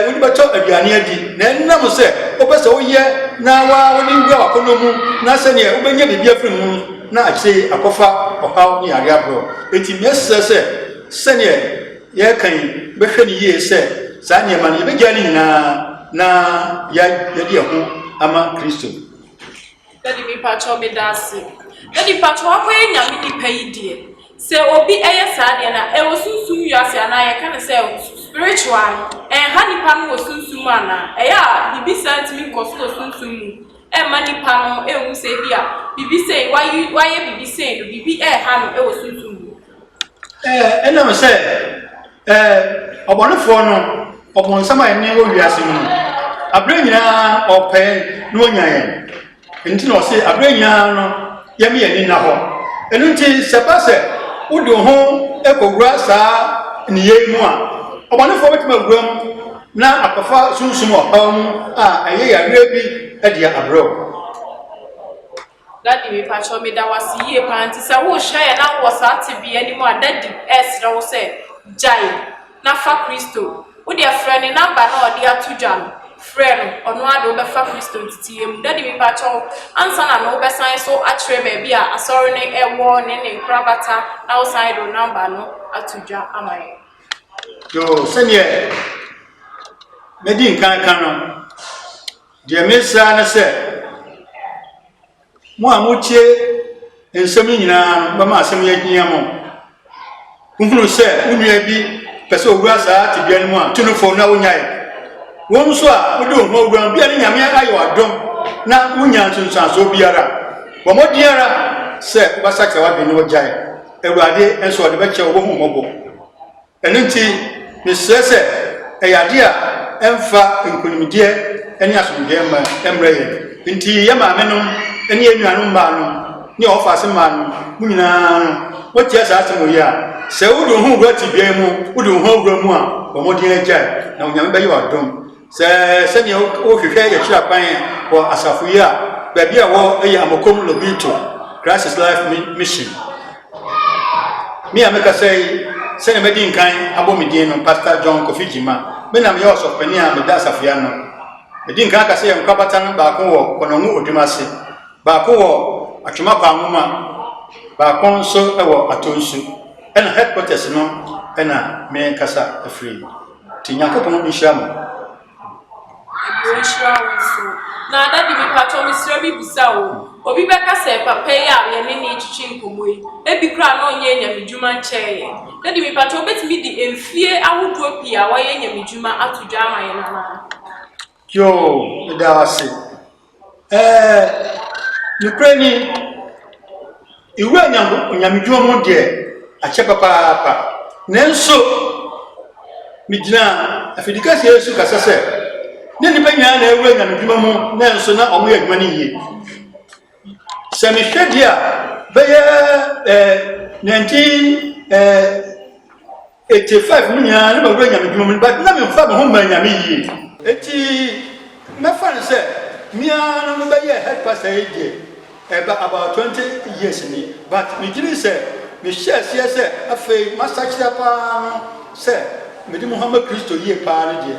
wode bɛtɔ aduane adi, na ɛnam sɛ wopɛ sɛ woyɛ na waa wode wura w'akɔnnɔ mu na sɛdeɛ wobɛnya biribi afiri mu na akyire akɔfa ɔhaw ne yareɛ agorɔ. Enti mesrɛ sɛ sɛdeɛ Yɛreka yi, bɛhwɛ no yie sɛ saa nneɛma no yɛbɛgyae no nyinaa na yɛade yɛn ho ama Kristo. Dadi mipatwɔ meda ase. Dadi patwɔ wakɔyɛ nyame nipa yi deɛ sɛ obi ɛyɛ saa deɛ na ɛwɔ sunsum wiase anaa yɛka ne sɛ spiritual no ɛnha nipa no wɔ sunsum mu anaa ɛyɛ a bibi saa ntumi nkɔ so wɔ sunsum mu ɛmma nipa no ɛnhu sɛ bi a bibi sɛn wayɛ bibi sɛn no bibi ɛha no ɛwɔ sunsum mu. Ɛnam sɛ ɔbɔnefoɔ no, ɔbonsam a ɛne wɔ wiase mu no, aberɛ nyinaa ɔpɛ na ɔnya yɛn. Nti na ɔse aberɛ nyinaa no yɛme yɛn ani nna hɔ. Ɛno nti sɛ ba sɛ wode wo ho kɔwura saa nneyɛe mu a, ɔbɔnefoɔ bɛtumi awura mu na akɔfa sunsum ɔhaw mu a ɛyɛ yareɛ bi de abrɛ wo. Daddy mepakyɛw meda wo ase yie paa nti sɛ worehyira yɛn na wowɔ saa tebea no mu a daddy ɛresrɛ wo sɛ gyae na fa Kristo wodeɛ frɛ ne number no a ɔde ato dwa no frɛ no ɔno ara de wobɛfa Kristo nteteɛ mu daddy mepakyɛw ansa na no wobɛsan so akyerɛ baabi a asɔre no ɛwɔ ne ne nkorabata na wosan de wo number no ato dwa ama yɛn. Yo, sɛdeɛ madi nkan ka no. Deɛ merese ara ne sɛ, mo a motie nsɛm yi nyina ara no, mobɛma asɛm yi ahia mo. Wohunu sɛ wo nua bi pɛ sɛ ɔwura saa tebea no mu a, tu no fo na wonyae. Wo nso a wode wo ho awura mu, bia ne Nyame ayɛ wo adom na wonya nsunsuansoɔ biara a, bɔ mmɔden ara sɛ wobɛsakra w'adwene na wagyae. Awurade nso ɔde bɛkyɛ wo, ɔbɛhu wo mmɔbɔ. Ɛno nti, mesrɛ sɛ ɛyɛ adeɛ a ɛmfa nkonimdieɛ ne asomdwoeɛ mma ɛmmrɛ yɛn. Enti yɛn maamenom ne yɛn nuanom mmaanom ne yɛn ɔfaase mmaanom, mo nyinaa no, moteɛ saa asɛm wɔ yi a, Sɛ wode wo ho wura tebea yi mu, wode wo ho awura mu a, bɔ mmɔden gyae, na Onyame bɛyɛ wo adom. Sɛ sɛnea worehwehwɛ yɛkyerɛ akwan wɔ asafo yi a baabi a wɔ yɛ Amokom Lobito Christ is Life Mission. Me a mekasa yi, sɛnea madi nkan abɔ me din no, Pastor John Kofi Gyima. Me na meyɛ ɔsɔfopanin a meda asafo yi ano. Medi nkan aka sɛ yɛn nkorabata no baako wɔ Kɔnɔngu Odwuma ase, baako wɔ Atwema Kwanwoma, baako nso wɔ Atonsu. Ɛna headquarters no na mekasa afiri. Nti Nyankopɔn nhyira mo. Nhyira wo nso. Na daddy me patɔ me srɛ me bisa wo, obi bɛka sɛ papa yi a yɛne nee twetwe nkɔmmɔ yi, ebi koraa na ɔnyɛɛ nyamedwuma nkyɛɛ yɛn. Daddy me patɔ wobɛtumi de mfie ahodoɔ pii a wayɛ nyamedwuma ato dwa ama yɛn anaa? Yoo meda wo ase ɛɛ nokorɛ ni ewura nyanko onyamedwuma mu deɛ akyɛ papaapa nanso me gyina afidikɛseɛ yi so kasa sɛ ne nipa nyinaa na ewura nyamedwuma mu nanso na ɔmo yɛ adwuma no yie sɛ mehwɛ deɛ a bɛyɛ ɛɛ 19 ɛɛ Ekyir five no nyina nna mowura Nyame edwuma mu no, but nna memmfa moho mmbrɛ Nyame yie. Ntsi mɛfa no sɛ me ara na mebɛyɛɛ head pastor yi deɛ ɛreba about twenty years ni, but megye dzi sɛ mehyɛɛ aseɛ sɛ afei m'asakyera paa no sɛ mede moho ama Kristo yie paa no deɛ,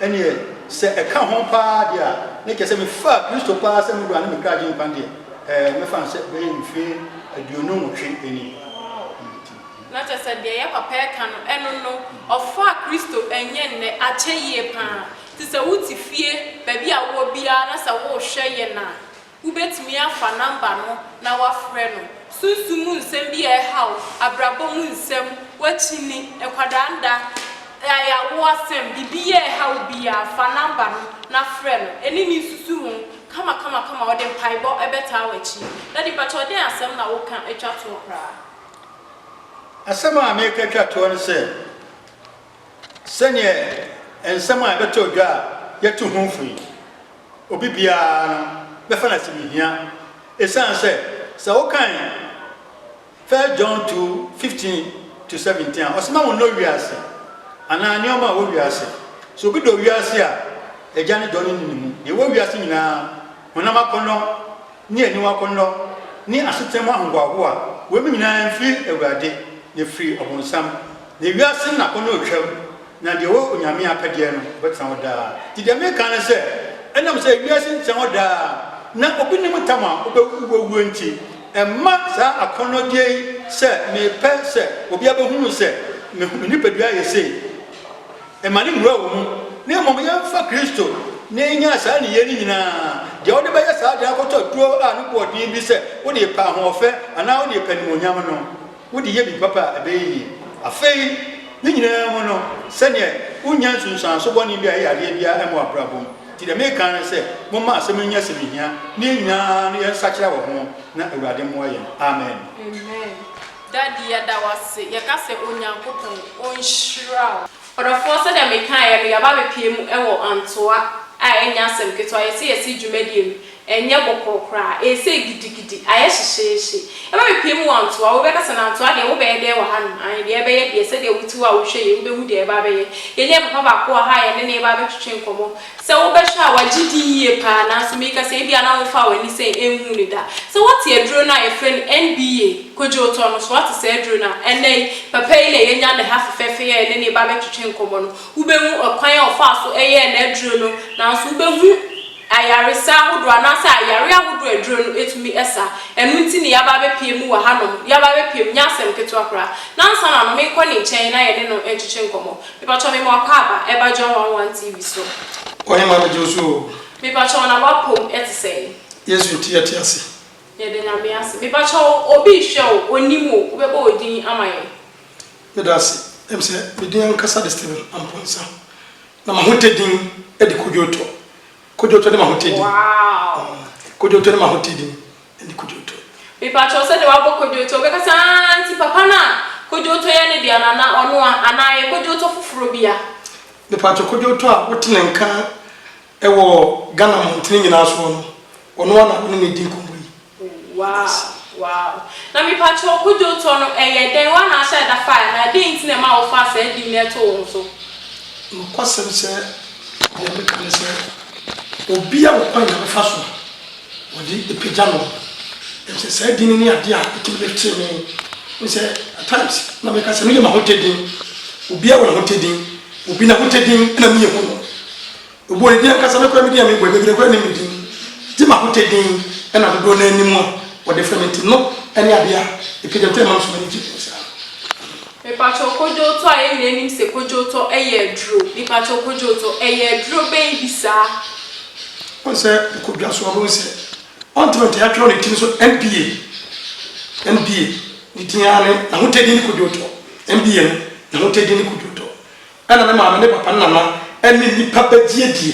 nneɛ sɛ ɛka ho paa deɛ a, na kyerɛ sɛ mefaa Kristo paa sɛ me Wura ne me Kra Agyenkwa deɛ, ɛɛ mɛfa no sɛ bɛyɛ mfie aduonu nwɔtwe ni. Na kyerɛ sɛ deɛ yɛ papa reka no, ɛno no, ɔfaa Kristo nyɛ nnɛ akyɛ yie pa ara. Nti sɛ wote fie, baabi a wowɔ biara na sɛ worehwɛ yɛn a, wobɛtumi afa nɔmba no na woafrɛ no. Sunsum mu nsɛm bi a ɛhaw, abrabɔ mu nsɛm, w'akyinni, nkwadaa nda, ayaawoɔ asɛm, biribi a ɛha wo biara, fa nɔmba no na frɛ no. Ɛnni ne nsusu ho, kamakamakama, ɔde mpaebɔ bɛtaa w'akyi. Daddy mpakyɛw dɛn asɛm na woka twa toɔ koraa? Asɛm a mereka atwa toɔ ne sɛ, sɛdeɛ nsɛm a ɛbɛtɔ dwa a yɛatu ho fo yi, obi biara no bɛfa no asɛ mehia, ɛsiane sɛ, sɛ wokan First John two, fifteen to seventeen a, ɔse ma wo nnɔ wiase anaa nneɛma a ɛwɔ wiase. Sɛ obi dɔ wiase a, Agya no dɔ no nni ne mu. Deɛ ɛwɔ wiase nyinaa, honam akɔnnɔ, ne aniwa akɔnnɔ, ne asetena mu ahohoahoa, weinom nyinaa mfiri Awurade, na ɛfiri ɔbonsam. Na ewiase nnapɔnna retwam, na deɛ ɔwɔ Onyame apɛdeɛ no, ɔbɛtena hɔ daa. Nti deɛ mereka ne sɛ, ɛnam sɛ ewiase ntena hɔ daa, na obi nnim ntam a ɔbɛwuo nti, ɛmma saa akɔnnɔdeɛ yi sɛ mepɛ sɛ obiara bɛhunu sɛ me nipadua yɛ sei, Mma no mmura wo mu, na mmom yɛmfa Kristo na yɛnyaa saa nneyɛɛ no nyinaa. Deɛ wode bɛyɛ saa de akɔtɔ tuo a ne boɔ den bi sɛ wode repɛ ahoɔfɛ anaa wode repɛ animuonyam no, wode yɛ biribi papa a, ɛbɛyɛ yie. Afei, ne nyinaa mu no, sɛdeɛ wonnya nsunsuanso bɔne bi a ɛyɛ yadeɛ biara mmɔ w'abrabɔ mu. Nti deɛ mereka ara ne sɛ, momma asɛm yi nyɛ asɛm ɛhia, na yɛn nyinaa no yɛnsakyera wɔ ho, na Awurade mmoa yɛn. Amen. Daddy yɛda wo ase yɛka sɛ Onyankopɔn ɔnhyira wo. Ɔdɔfoɔ sɛdeɛ mekaeɛ no yɛaba abɛpue mu wɔ Antoa a ɛnyɛ asɛm ketewa yɛse yɛse dwumadie no ɛnyɛ bɔkɔɔ koraa ɛresei gidigidi ayɛ hyehyeehye yɛba bɛpue mu wɔ Antoa wobɛka sɛ na Antoa deɛ wobɛyɛ dɛn wɔ hanom aane deɛ ɛbɛyɛ deɛ sɛdeɛ wote hɔ a wohwɛ yei wobɛhu deɛ ɛreba abɛyɛ yɛne yɛn papa baako wɔ ha a yɛne no reba abɛtwetwe nkɔmmɔ Sɛ wobɛhwɛ a, wagye din yie paa, nanso meka sɛ ebia na womfaa w'ani sɛ nhuu no da. Sɛ wote aduro no a yɛfrɛ no NBA, Kojo, tɔ no, so woate saa aduro no a ɛnnɛ yi papa yi na yɛanya no ha fefɛɛfɛ yi a yɛne ne ba bɛtwetwe nkɔmmɔ no, wobɛhu ɔkwan a ɔfaa so yɛɛ n'aduro no, nanso wobɛhu ayaresa ahodoɔ anaasɛ ayareɛ ahodoɔ a aduro no tumi sa. Ɛno nti na yɛaba abɛpue mu wɔ hanom, yɛaba abɛpue mu, nyɛ asɛm ketewa koraa. Nansa na no, menkɔ ne nkyɛn na yɛne no ntwetwe nkɔmmɔ. Mepatwɔ me mo akɔ aba ɛba John one one TV so. Ɔhemaa megye wo so oo. Mepatwɔ na w'apom ɛte sɛn. Yesu nti yɛte ase. Yɛda Nyame ase. Mepatwɔ obi rehwɛ wo onim wo wobɛbɔ wo din ama yɛn. Meda ase. Ɛm sɛ me din ankasa de Stephen Amponsah. Na m'ahotɛ din de Kodwo Otɔ. Kodwo Otɔ ne m'ahotɛ din. Wow. Kodwo Otɔ ne m'ahotɛ din. ne kodwoto. Mepakyɛw sɛ deɛ wabɔ kodwoto ɔbɛka sɛ aah nti papa no a kodwoto yɛ ne dea no anaa ɔno a anaa yɛ kodwoto foforɔ bi a. Mepakyɛw kodwoto a wote ne nka wɔ Ghana mmɔntene nyinaa soɔ no ɔno a na wo ne no redi nkɔmmɔ yi. Wow wow na mepakyɛw kodwoto no ɛyɛ dɛn wo anaa sɛ ɛda fire anaa dɛn nti na ɛma wo faa saa din no ɛtoo wo so. Nokwasɛm sɛ deɛ meka ne sɛ obi a ɔkwan a ɔbɛfa so a. Wɔde apagya no, efisɛ saa din no ne ade a etumi de tee me. Wohu sɛ, at times, na meka sɛ, meyɛ m'ahotɛ din. Obiara wɔ n'ahotɛ din. Obi n'ahotɛ din na meyɛ hu no. Obi wɔ ne din ankasa, me koraa me din a mebɔ yi, bebree koraa nnim me din. Gye m'ahotɛ din na dodoɔ no ara nim a wɔde frɛ me nti no ne ade a apagya me, ɛtɔ yɛ a ɛma me so m'ani gye saa. Mepakyɛw kodwootɔ a yɛn nyinaa nim sɛ kodwootɔ yɛ aduro. Mepakyɛw kodwootɔ, ɛyɛ aduro bɛn bi saa? Wɔn sɛ ɔkɔ dwa so a ɔbɛhu sɛ ɔntena nkyɛn atwerɛ ne tiri so NBA NBA ne din ara ne n'ahotadie ne kodwootɔ NBA no n'ahotadie ne kodwootɔ ɛna ne maame ne papa ne nana ɛne nnipa bɛgye adie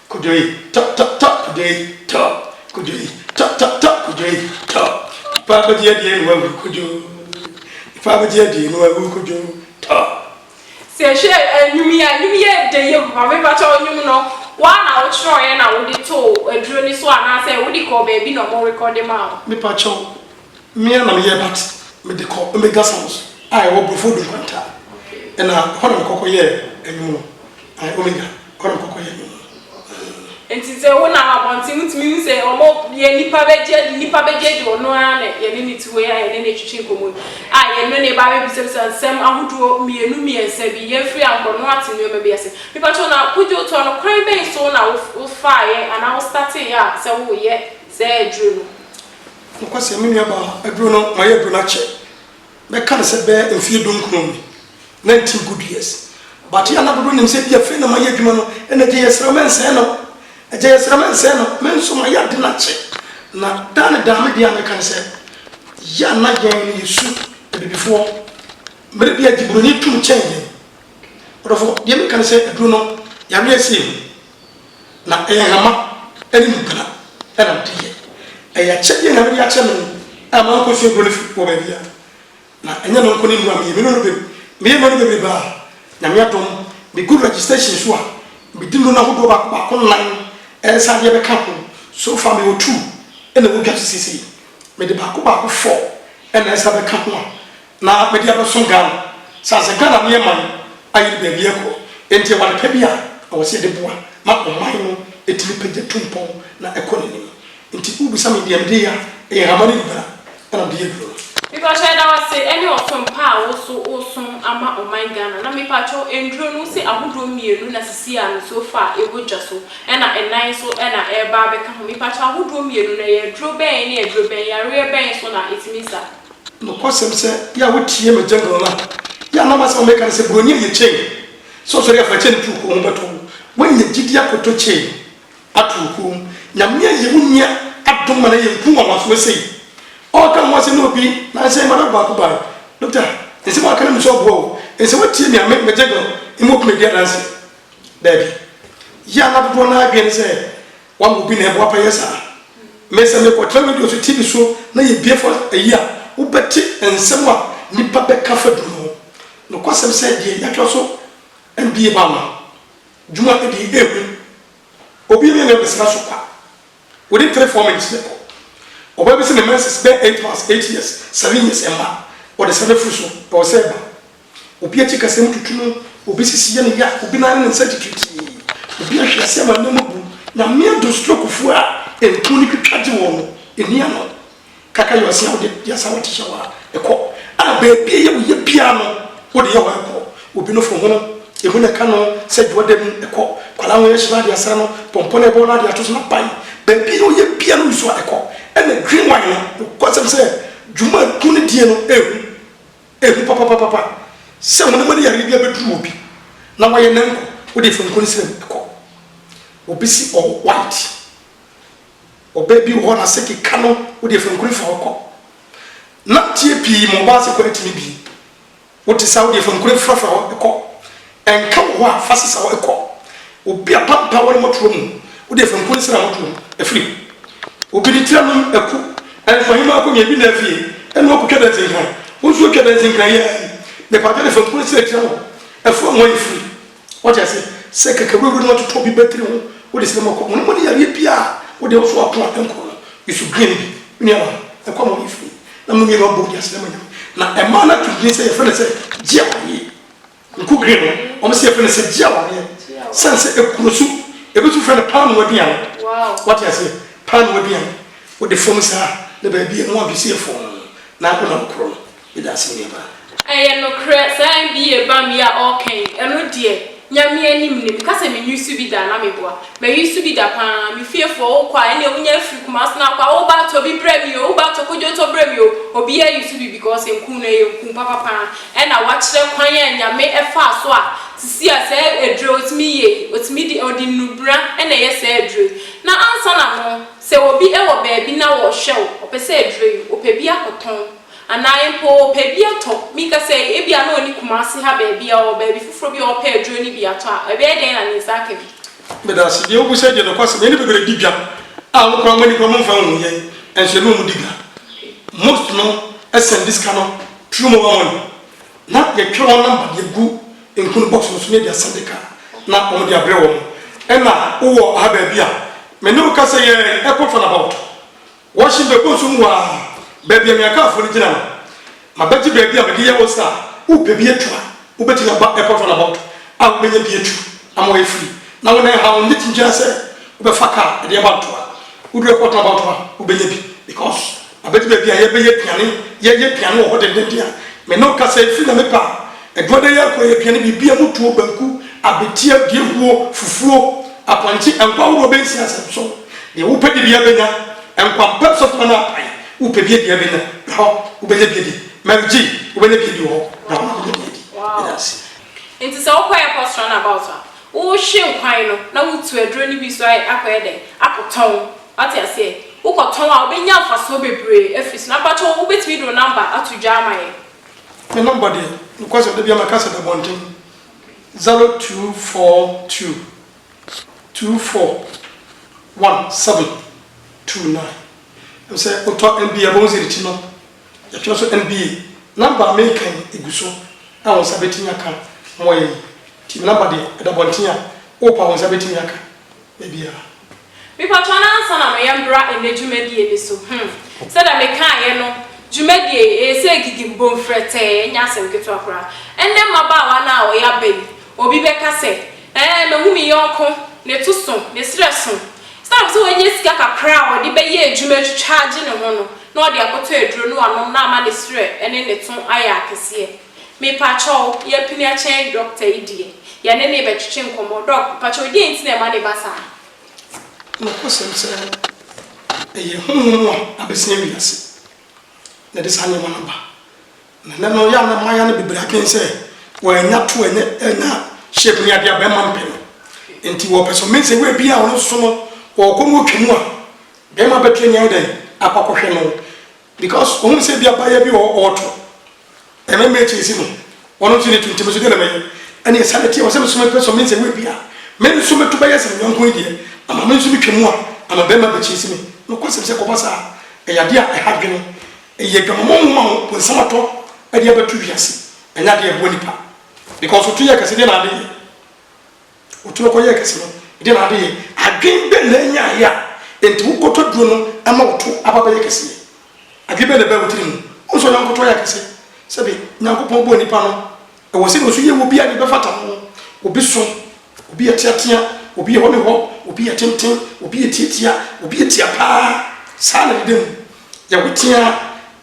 Kwadwo ei, tɔ tɔ tɔ kwadwo ei, tɔ kwadwo ei, tɔ tɔ tɔ kwadwo ei, tɔ Nipa abɛgye adie na wawu kwadwo Nipa abɛgye adie na wawu kwadwo, tɔ. Sɛ hwɛ nnwom yi a, nnwom yi yɛ dɛ yam. Maame mpakyɛw nnwom no woa na wo kyerɛwɛ na wode too aduro no so anaa sɛ wode kɔɔ baabi na ɔmo rekɔde maa wo? Me pakyɛw me ara na me yɛ but me de kɔ Omega Sounds a ɛwɔ Brofo Odu Nkwanta ɛna ɛhɔ na me kɔ kɔ yɛɛ nnwom no, ae Omega. Kwan kɔkɔyɛ no mu. Aane. Nti sɛ wo nam abɔnten wo tumi hu sɛ ɔmɔ deɛ nipa bɛgye adi nipa bɛgye adi ɔno ara na yɛne no te wei a yɛne no retwetwe nkɔmɔ yi a yɛne no ba bɛbisabisa nsɛm ahodoɔ mmienu mmiɛnsa bi yɛmfiri ankɔ no ate nnoɔma bi ase mepa kyɛw na kwadwo toa no kwan bɛn so na wo faeɛ anaa wo starteeɛ a sɛ wo reyɛ saa aduro no. Nokwasɛm me nua baa aduro no mayɛ aduro no akyɛ Mɛka no sɛ bɛyɛ mfeɛ dunkron ni, nineteen good years, but yɛ a na dodoɔ nim sɛ ebia fei na mayɛ adwuma no, ɛna agya yi yɛsrɛ wo mɛnsɛe no, agya yɛsrɛ mɛnsɛe no, me nso mayɛ ade no akyɛ, na daa ne daa me deɛ a mɛka ne sɛ, yɛ a na yɛn no yɛsu abibifoɔ, mmerɛ bi a agye buroni tum kyɛn yɛn, ɔdɔfoɔ, deɛ meka ne sɛ aduro no yareɛ sei ho, Na nhama ne mpena na mede yɛ. Ɛyɛ akyɛdeɛ a Nyame de akyɛ me a mankɔsua aburo no firi wɔ baabi a. Na ɛnyɛ no nko ne nnuro a meyɛ, menu no be, meyɛ nnuro no bebrebe a, Nyame adom, megu registration so a, medi nnuro no ahodoɔ baako baako nnan ɛnsa adeɛ bɛka ho, so far mewɔ two na ɛwɔ dwa so seisei, mede baako baako four na ɛnsa bɛka ho a, na mede abɛso Ghana sɛ asɛ Ghana ne yɛ man ayɛ ne baabi ɛkɔ nti ɛwɔ adepɛ bi a ɛwɔ sɛ yɛde boa ma ɔman no ɛtumi pagya tu mpɔn na ɛkɔ nanim nti wo bisa me deɛ mede yɛ a ɛyɛ nhama ne dubara ɛna mede yɛ aduro no. Mepakyɛ yɛda wo ase ɛne ɔsom pa a wo so wo som ama ɔman Ghana na mepakyɛ nduro no wo se ahodoɔ mmienu na sisi a me so fa ɛwɔ dwa so ɛna ɛnan nso ɛna ɛreba abɛka ho mepakyɛ ahodoɔ mmienu no ɛyɛ aduro bɛn ne aduro bɛn yareɛ bɛn so na ɛtumi sa. Nokwasɛm sɛ yɛ a wotie m'agya dɔn a, yɛ a na m'asɛm a meka ne sɛ Buronyi no yɛ chain, sɛ ɔsɔre a fa chain to wo kɔn ho bɛtɔ wo. Woanya gyidi akɔtɔ chain no ato wo kɔn mu. Nyame ayi wo nua adom ma no ayɛ nku nwanwasoɔ sei. Ɔreka wo ho asɛm ne obi na nsɛ yi madam baako baeɛ, Doctor, nsɛm a ɔka no nim sɛ ɔboa wo, nsɛ woatie me a me, m'agya dɔn, mma ɔpene adi adanseɛ. Daabi. Yɛ a na dodoɔ no ara adwene ne sɛ Wɔn mu bi na ɛboapa yɛ saa. Me, sɛ merekɔtra radio so, TV so na yɛbue fa ayi a, wobɛte nsɛm a nnipa bɛka fa duru ho. Nokwasɛm sɛ deɛ yɛatwerɛ so mbie ba ma dwuma ɛdi ehu. Obi yɛ me a na yɛbɛsra so kwa. Within three, four minutes mɛkɔ. Ɔbaa bi se ne menses bɛyɛ eight months, eight years, seven years ɛmma. Ɔdesani firi so, ɛwɔ sɛ ɛba. Obi akyi kasa mu tutu no, obi sisi yɛ no ya, obi nan ne ne nsa titiritii, obi ahwe ase ama nneɛma bu. Nyame adom strokefo a ntu no twitwa gye wɔn no, enni ano. Kaka yɛ ɔse a wode yɛ asa a wɔte hyɛ hɔ a ɛkɔ, a baabi a ɛyɛ wo ya biara no wode yɛ hɔ a ɛkɔ. Obi nofo hono, emu na ɛka no sɛ dwoa da mu, ɛkɔ. Kwalaa ho yɛ hye na ade asra no, pɔmpɔ na ɛbɔ na ade ato so na pan. Baabi a ɛyɛ wo ya biara no wusu a ɛkɔ. Ɛna green wine no, nokwasɛm sɛ dwuma a tu no die no, ehu. Ehu papapapapa sɛ honam ani yareɛ bi abɛduru obi na wayɛ nanko wode faniku no srem kɔ. Obi se ɔwɔ white. Ɔbaa bi wɔ hɔ nase keka no wode faniku no fa hɔ kɔ. Nanteɛ pii ma ɔbaa se kɔ atumi bi. Wote saa wode faniku no fra fra hɔ kɔ. Nka wɔ hɔ a fa sesaw kɔ. Obi apampaa wo ne mɔtorɔ mu, wode afenku ne sera mɔtorɔ mu afiri mu. Obi de tire anom aku nkomahemaa akonnwa ebi na afie ɛno akotwa dɛnse nkran. Wo nso atwa dɛnse nkran yi ara yi, mepatwa de afenku ne sera tira wo afu anwa yi firi. Wate ase? Sɛ kakawurawura no atoto obi batiri ho, wode srɛ ma ɔkɔ. Honam ani yareɛ biara a wo deɛ wo so ako a ɛnkɔ no, yusu green no bi. Me nuanom, ɛkɔ ama wɔyi firi mu. Na mo mmienu abom de aseda ama Nyame. Na ɛmaa no ato din sɛ yɛfrɛ no sɛ, Gye a wɔgye. Nkogire no, wɔn nso yɛfrɛ no sɛ gye awadeɛ sane sɛ ɛkuro so. Yɛbɛtumi frɛ no paanoo aduane. Woate aseɛ? Paanoo aduane. Wode fam saa a, na baabi a ɛmmoa mfiri so yɛ fɔnn na wonam akorɔ no. Meda ase, me nuabaa. Ɛyɛ nokorɛ, saa MBA bam yi a ɔɔka yi, ɛno deɛ, Nyame anim nim, meka sɛ me nwi so bi da a na meboa. M'ani so bi da paa. Me fiefoɔ, wo kɔ a, ɛnneɛ wo nya firi Kumasi na kɔ a, wo ba a tɔ bi brɛ me o, wo ba a tɔ kodwontɔ brɛ me o. Obiara ani so bi because nku no ɛyɛ nku papa paa. Ɛna wakyerɛ kwan a Nyame ɛfaa so a sisi a saa aduro yi ɔtumi yɛ yi, ɔtumi de, ɔde nnubena ɛna ɛyɛ saa aduro yi. Na ansa na no, sɛ obi ɛwɔ baabi na ɔhwɛ wo, ɔpɛ sɛ aduro yi, ɔpɛ bi akɔtɔn. Anaa mpo ɔpɛ bi atɔ, meka sɛ ebia na ɔnni Kumasi ha baabi a ɔwɔ baabi foforɔ bi a ɔpɛ aduro no bi atɔ a, ɛbɛyɛ dɛn na ne nsa aka bi? Meda ase. Deɛ wobisa yi deɛ nokwasɛm, yɛne bebree di dwa a wo koraa moani koraa momfa nhu yɛn nso yɛne wɔn di dwa. Most no sɛnde sika no through mobile money na yɛtwerɛ wɔn number de agu nkunu box no so na yɛde asɛnde ka na wɔn de abrɛ wɔn. Ɛna wowɔ ha baabi a me ne wo kasa yi ara yi ɛkɔ fana about Wɔhye bɛgu nsu mu hɔ ara, baabi a Miakaafoɔ no gyina no. Mabɛgye baabi a mede yɛ wo sa a wopɛ bi atu a, wobɛtumi aba Airport Runabout a wobɛnya bi atu ama woayɛ free. Na wo nan ha no, ne tumi biara sɛ wobɛfa car de ɛba Ntoa. Wodu Airport Runabout hɔ a, wobɛnya bi because mabɛgye baabi a yɛbɛyɛ aduane, yɛyɛ aduane wɔ hɔ dendenden a me ne wo kasa yi, firi na mepɛ a Aduada yi akɔyɛ aduane bibia mu tuo, banku, abeteɛ, duahuo, fufuo, apɔnkye, ɛnkwa ahoroɔ bɛnsia nsɛmso, deɛ wopɛ di biara bɛnya, ɛnkwa mpɛ nsɔfoma no apae, wopɛ bi adi a bɛnya, bra hɔ, wobɛnya bi adi, Mary Jean, wobɛnya bi adi wɔ hɔ, bra hɔ na wobɛnya bi adi, yɛda ase. Nti sɛ wokɔ airport run about a, wohwe nkwan no na wotu aduro no bi so ayɛ akɔyɛ dɛn? Akɔtɔn. Wate aseɛ? Wokɔtɔn a wobɛnya mfasoɔ bebree afiri so. Na mpakyɛw wobɛtumi de wo number ato dwa ama yɛn? Me number deɛ nokwasɛm da biara mɛka sɛ da bɔnten zero two four two two four one seven two nine ɛm sɛ otɔ nba a bɔn ziri kyi no yɛtwerɛ so nba number a meka yi egu so a wɔn nsa betumi aka wɔn yɛ yi ti me number deɛ ɛda bɔnten a wopa wɔn nsa betumi aka Ebia. Mepakyɛw na ansa na mereyɛ mbra ndɛ dwumadie no so, hmm, sɛdeɛ mekaaeɛ no, dwumadie yi, ɛyɛ sɛ gidim, bom frɛtɛɛ, ɛnyɛ asɛm ketewa koraa. Ɛnnɛ mmabaawa no a wɔyɛ aba yi, obi bɛka sɛ, Ɛɛ, mahu me yɔnko, ne to so, ne serɛ so. Esiane sɛ wanya sika kakra a ɔde bɛyɛ adwuma atwitwa agye ne ho no, na ɔde akɔtɔ aduro na wanom na ama ne serɛ ne ne to ayɛ akɛseɛ. Mepakyɛw yɛ pini akyɛn doctor yi deɛ yɛne nee bɛtwetwe nkɔmmɔ doc pakyɛw deɛn nti na ɛma ne ba saa. Nokwasɛm sɛ ɛyɛ honhom a abɛsea wiase na ɛde saa nneɛma no ba. Na ɛnnɛ no yɛ a na mmayewa no bebree adwene sɛ wɔanya to ɛnyɛ ɛnya shape ne adeɛ a bɛrima mpɛ no nti wɔpɛ so means sɛ woabie a ɔno nso no ɔɔkɔ na ɔtwa mu a bɛrima bɛtumi ayɛ dɛn akɔ akɔhwɛ no. Because ohun sɛ ebi abayɛ bi wɔ hɔ ɔɔtɔ na me mate esi no ɔno nso ne tu nti me nso deɛ na mɛyɛ ɛne ɛsa ne teɛ wɔ sɛ me nso mepɛ sɔ me nsa wu ebi a me nso me to bɛyɛ sɛ me yɔnko yi deɛ ama me nso me twa mu a ama bɛɛma bɛkyi esi me nokwa sɛm sɛ kɔba saa ɛyɛ adeɛ a ɛha dwene ɛyɛ adwamamɔ nwoma ho bonsam atɔ ɛde abɛto wiase ɛnyɛ adeɛ ɛboa nipa because oto yɛ kɛse deɛ na ade yɛ. Otumi kɔyɛɛ kɛse no, ɛdeɛn na adeyɛ? Adwene bɛn na ɛnyaeɛ a enti wo kotoduro no ama wo to aba bɛyɛ kɛseɛ? Adwene bɛn na ɛbaa wo tiri mu? Wohu sɛ ɔyɛ nkoto ayɛ akɛse? Sɛbe Nyankopɔn bɔɔ nipa no, ɛwɔ sɛ na ɔso yɛ obi a deɛ bɛfata no. Obi so, obi yɛ teatea, obi yɛ hɔ ne hɔ, obi yɛ tenten, obi yɛ tiatia, obi yɛ tia paa. Saa na ɛdeda mu. Yɛwo teaa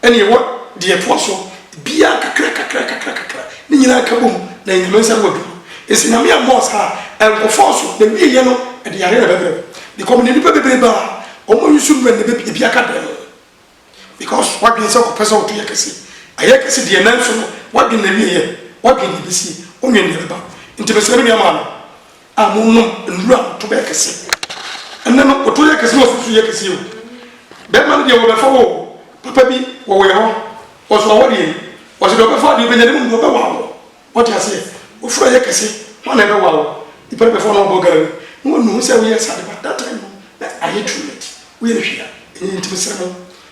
ne yɛwɔ deɛ ɛtoa so biara kakra kakra kakra kakra, ne nyinaa ka bom na ɛyɛ Nyame nsa ano adwuma. Enti Nyame ammɔɔ saa, ɛnkɔ fɔɔso, na ɛwieɛ no ɛde yareɛ na ɛbɛbrɛ wo because menim nnipa bebree baa a wɔn use nnura nnɛ bɛ ebi aka dɛn because w'adwene sɛ ɔpɛ sɛ ɔto yɛ kɛse, ayɛ kɛse deɛ nanso no w'adwene na ɛwieɛ, w'adwene deɛ ɛbɛsie, wonwen deɛ ɛbɛba. Nti mesrɛ me nua maame, a monom nnuru a moto bɛyɛ kɛseɛ. Ɛnnɛ no, wo to yɛ kɛseɛ na w'asusu yɛ kɛseɛ o. Bɛrima no deɛ wɔbɛfa wo o, papa bi wɔ wo yɛ hɔ, ɔso ɔwɔ deɛ yi, ɔse deɛ ɔbɛfa deɛ ɔbɛnya ne mmom deɛ ɔbɛwa wo. Wote aseɛ? Wo frɛ yɛ kɛse, hwan na ɛbɛwa wo? Nipa no bɛfa wo na wabɔ gari na wanu ho sɛ woyɛ saa de, but that time no na ayɛ too late, woyɛ no hwee a, ɛnyɛ yie nti mesrɛ mo.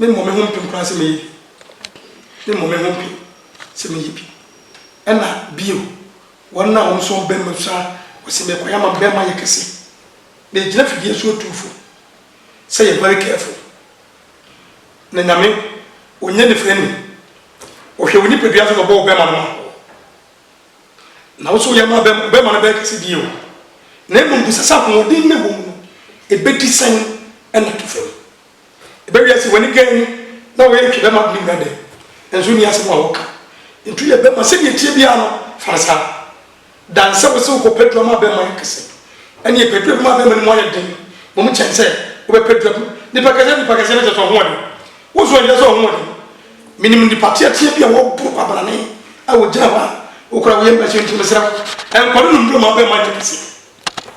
Memmɔ me ho mpem koraa sɛ mɛyɛ bi. Memmɔ me ho mpem sɛ mɛyɛ bi. Ɛnna bio, wɔn a wɔn nso wɔbɛn me nso a, wɔse merekɔyɛ ama me barima ayɛ kɛse. Megyina fidie so retu fo sɛ yɛ very careful. Na Nyame, ɔnyɛ nifirani. Ɔhwɛ wo nipadua so na ɔbɔ wo barima no maa wo. Na wo nso woyɛ maa barima, wo barima no bɛyɛ kɛse bio. Na mmom bisa sɛ ahoɔden no a ɛwɔ mu no, ɛbɛdi sɛn na atu fam? Ɛbɛ wiase w'ani gan mu na wɔyɛ ntwi bɛma ne nyina dɛ nso nni asɛm a wɔka ntwi yɛ bɛma sɛdeɛ ɛteɛ biara no fa no saa dan sɛ wo se wokɔ pɛ duru ama bɛma yɛ kɛsɛ ɛneɛ pɛ duru ɛbɛma bɛma no mu ayɛ den wɔ mu kyɛn sɛ wobɛ pɛ duru ama nipa kɛsɛ nipa kɛsɛ no kyɛsɛ ɔhoɔden wo nso ɛnkyɛ sɛ ɔhoɔden menim nipa teateɛ bi a wɔboro kɔ abanane a wɔgyina hɔ a wokora woyɛ mma sɛ nti mesrɛ wo ɛnkɔ no no mmuro ma bɛma yɛ kɛsɛ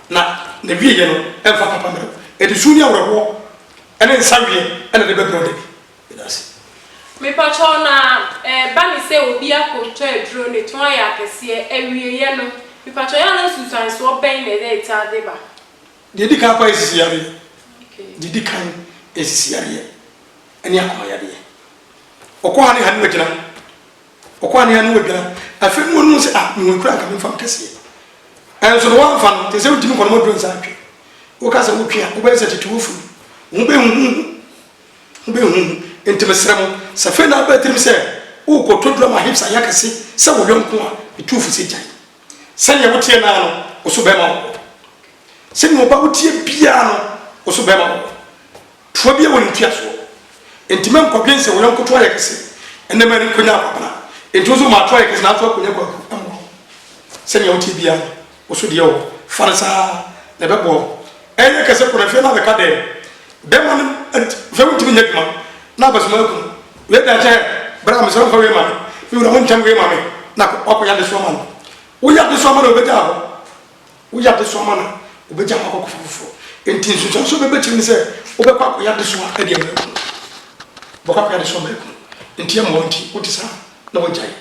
Na n'awieeɛ no mfa papa mmerɛ. Ɛde su ne awerɛhoɔ ne nsa weɛ na ɛde bɛbrɛ wo da bi. Meda ase. Mepakyɛw na ɛba ne sɛ obi akɔtɔ aduro ne tɔn ayɛ akɛseɛ awieɛ no mepakyɛw yɛ a na nsunsuansoɔ bɛn na ɛna ɛtaa de ba. Deɛ ɛdi kan koraa yɛ sisi yareɛ deɛ ɛdi kan yɛ sisi yareɛ ɛne akoma yareɛ ɔkɔ ha ne ha ne wagyina. Ɔkɔ a ne ano adwan. Afei na ɔnuu sɛ, ah, me ho akura anka memfa me kɛseɛ. Nanso no woamfa no, te sɛ wotumi kɔ na modwo nsa twe. Woka sɛ wotwe a, wobɛyɛ sɛ tete wo funu. Wo ho bɛhuhuhu. Ho bɛhuhuhu. Enti mesrɛ mo, sɛ afei na aba tirim sɛ worekɔtɔ drum a hips ayɛ akɛse sɛ wo yɔnko a, metu wo fo sɛ gyae. Sɛdeɛ woteɛ no ara no, wo so bɛma wo wɔ. Sɛdeɛ ɔba woteɛ biara no, wo so bɛma wo wɔ. Toa biara wɔ ne ntiasoɔ. Enti mɛnkɔdwen sɛ wo yɔnko to ayɛ kɛse, ɛnna mankɔnya akwabena. Enti wo nso ma ato ayɛ kɛse, nanso akɔnya kwaku mmoa wo. Sɛdeɛ woteɛ biara no, wo so deɛ wɔ hɔ. Fa no saa ara, na ɛbɛboa wo. Ɛrenyɛ kɛse kɔ no, afei na abɛka dɛn? Bɛrima no ant, afei wontumi nyɛ adwuma, na abasoma akum wo. Wei deɛ ankyɛ ɛ! Bra, mesrɛ wo, fa wei ma me. Me wura, montam wei ma me, na kɔ, woakɔyɛ adesoa ma no. Woyɛ adesoa ma no a, ɔbɛgyaa hɔ. Woyɛ adesoa ma no a, obegyaw hɔ akɔkɔfa foforo. Enti nsunsuanso a wobɛbɛ akyiri ne sɛ wobɛkɔ akɔyɛ adesoa de ama ekunu. Wobɛkɔ akɔyɛ adesoa ama ekunu. Enti ɛmmoa wo nti wote saa na woagyae.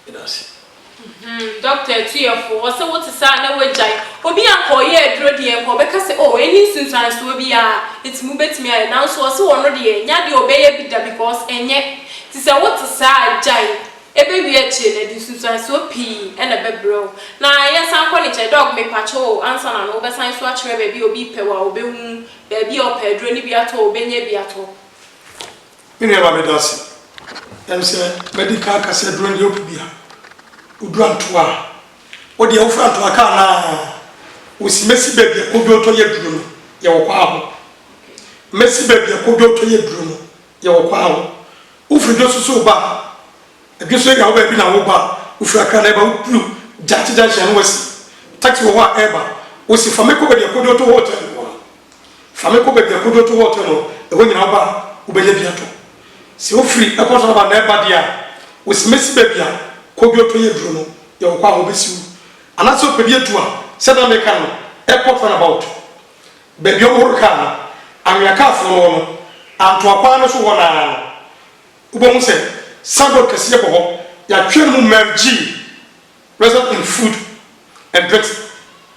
Yɛda ase. Mhmm Doctor Atuɛfoɔ, ɔse wote saa na woagyae. Obi a nka ɔyɛ aduro deɛ nka ɔbɛka sɛ oh ɛnni nsunsuansoɔ biara enti mobɛtumi ayɛ nanso ɔse ɔno deɛ ɛnyɛ adeɛ a ɔbɛyɛ bi da because ɛnyɛ. Nti sɛ wote saa a gyae. Ebewie akyire no, ɛde nsunsuansoɔ pii na ɛbɛbrɛ wo. Na yɛ san kɔ ne nkyɛn, dog mepakyɛw o, ansa na no wobɛsan nso akyerɛ baabi a obi pɛ wo a obehu, baabi a ɔpɛ aduro no bi atɔ o, obenya bi atɔ. Me nua ba meda ase, ɛm sɛ mɛdi kan aka sɛ aduro no deɛ wopɛ biara, wodura ntoa a, wo deɛ wofra ntoa ka anaa? Wo si mɛsi baabi a kodwo tɔ yɛ aduro no, yɛwɔ kɔ aho, mɛsi baabi a kodwo tɔ yɛ aduro no. Yɛwɔ kwan o. Wofiri dwo so so wo ba a, dwo so area hɔ baabi na woreba a, wofiri Accra na ɛreba, woduru Gyakye junction no woasi taxi wɔ hɔ a ɛreba, wosi fa me kɔ baabi a Kojo to hɔ hotel no wɔ no, fa me kɔ baabi a Kojo to hɔ hotel no wɔ no, ɛhɔ nyinaa woba a wobɛnya bi atɔ. Sɛ wofiri Airport Road aba na ɛreba deɛ a, wosi mɛsi baabi a Kojo to yɛ duro no, yɛwɔ kwan a wɔbɛsi wo. Anaasɛ wopɛ bi atu a, sɛdeɛ na mereka no, Airport Runabout, Baabi a wohoro kaa no, anwea kaafoo no wɔ no, Antoa kwan no so hɔ no ara no, wobɛhu sɛ signboard kɛseɛ bɔ hɔ, yɛatwerɛ no mu Merv Gee Restaurant in Food and Pet.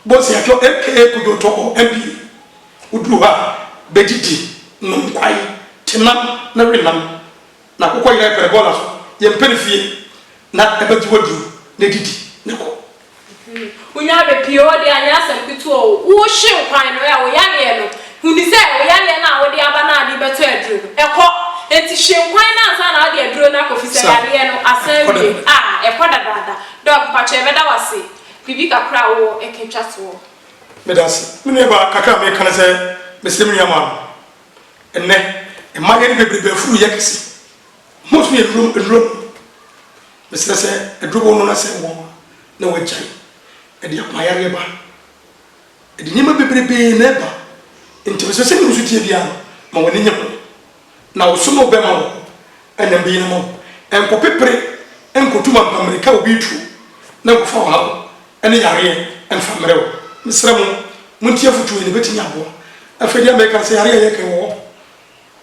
Wobɛhu sɛ yɛatwerɛ aka Kojootɔ or MPA. Woduru hɔ a, bɛdidi, nom kwae, te nam na we nam. Na wokɔyera yɛpɛ no bɔɔla so, yɛmpɛ no fie, na ɛbɛgye wo aduru na didi na kɔ. Wonya bɛ pii hɔ deɛ a, nyɛ asɛm ketewa o. Wohye nkwan no ɛ, wo yareɛ no, hunu sɛ wo yareɛ no a wode aba no a de bɛtɔ aduro no, ɛkɔ. Enti hye nkwan no ansa na wode aduro no akɔ fisɛ yareɛ no asan awie. A, ɛkɔ dadaada. Doc, mpakyɛ yɛbɛda wo ase. Biribi kakra a wowɔ ɛka ɛtwa toɔ. Meda ase. Me nua baa, kakra a meka ne sɛ, mesrɛ me nua maa no. Ɛnnɛ, mmayeɛ no bebrebe afuru yɛ kɛse. Mo so yɛ duro aduro no mesrɛ sɛ aduro bɔ no na sɛ wɔ na wagyae ɛde akoma yareɛ ba ɛde nneɛma bebrebee na ɛba nti mesrɛ sɛdeɛ wosu teɛ biara no ma w'ani nyɛ bɔne na wo so no bɛma wo ɛna mbɛyi no ma wo ɛnkɔ pepere ɛnkɔtu mampa mmirika obi tuo na nkɔfa ɔhaw ɛne yareɛ ɛmfa mmerɛ wo mesrɛ mo montie afotuo yi na ɛbɛtumi aboa afei deɛ mɛka sɛ yareɛ a yɛka wɔ hɔ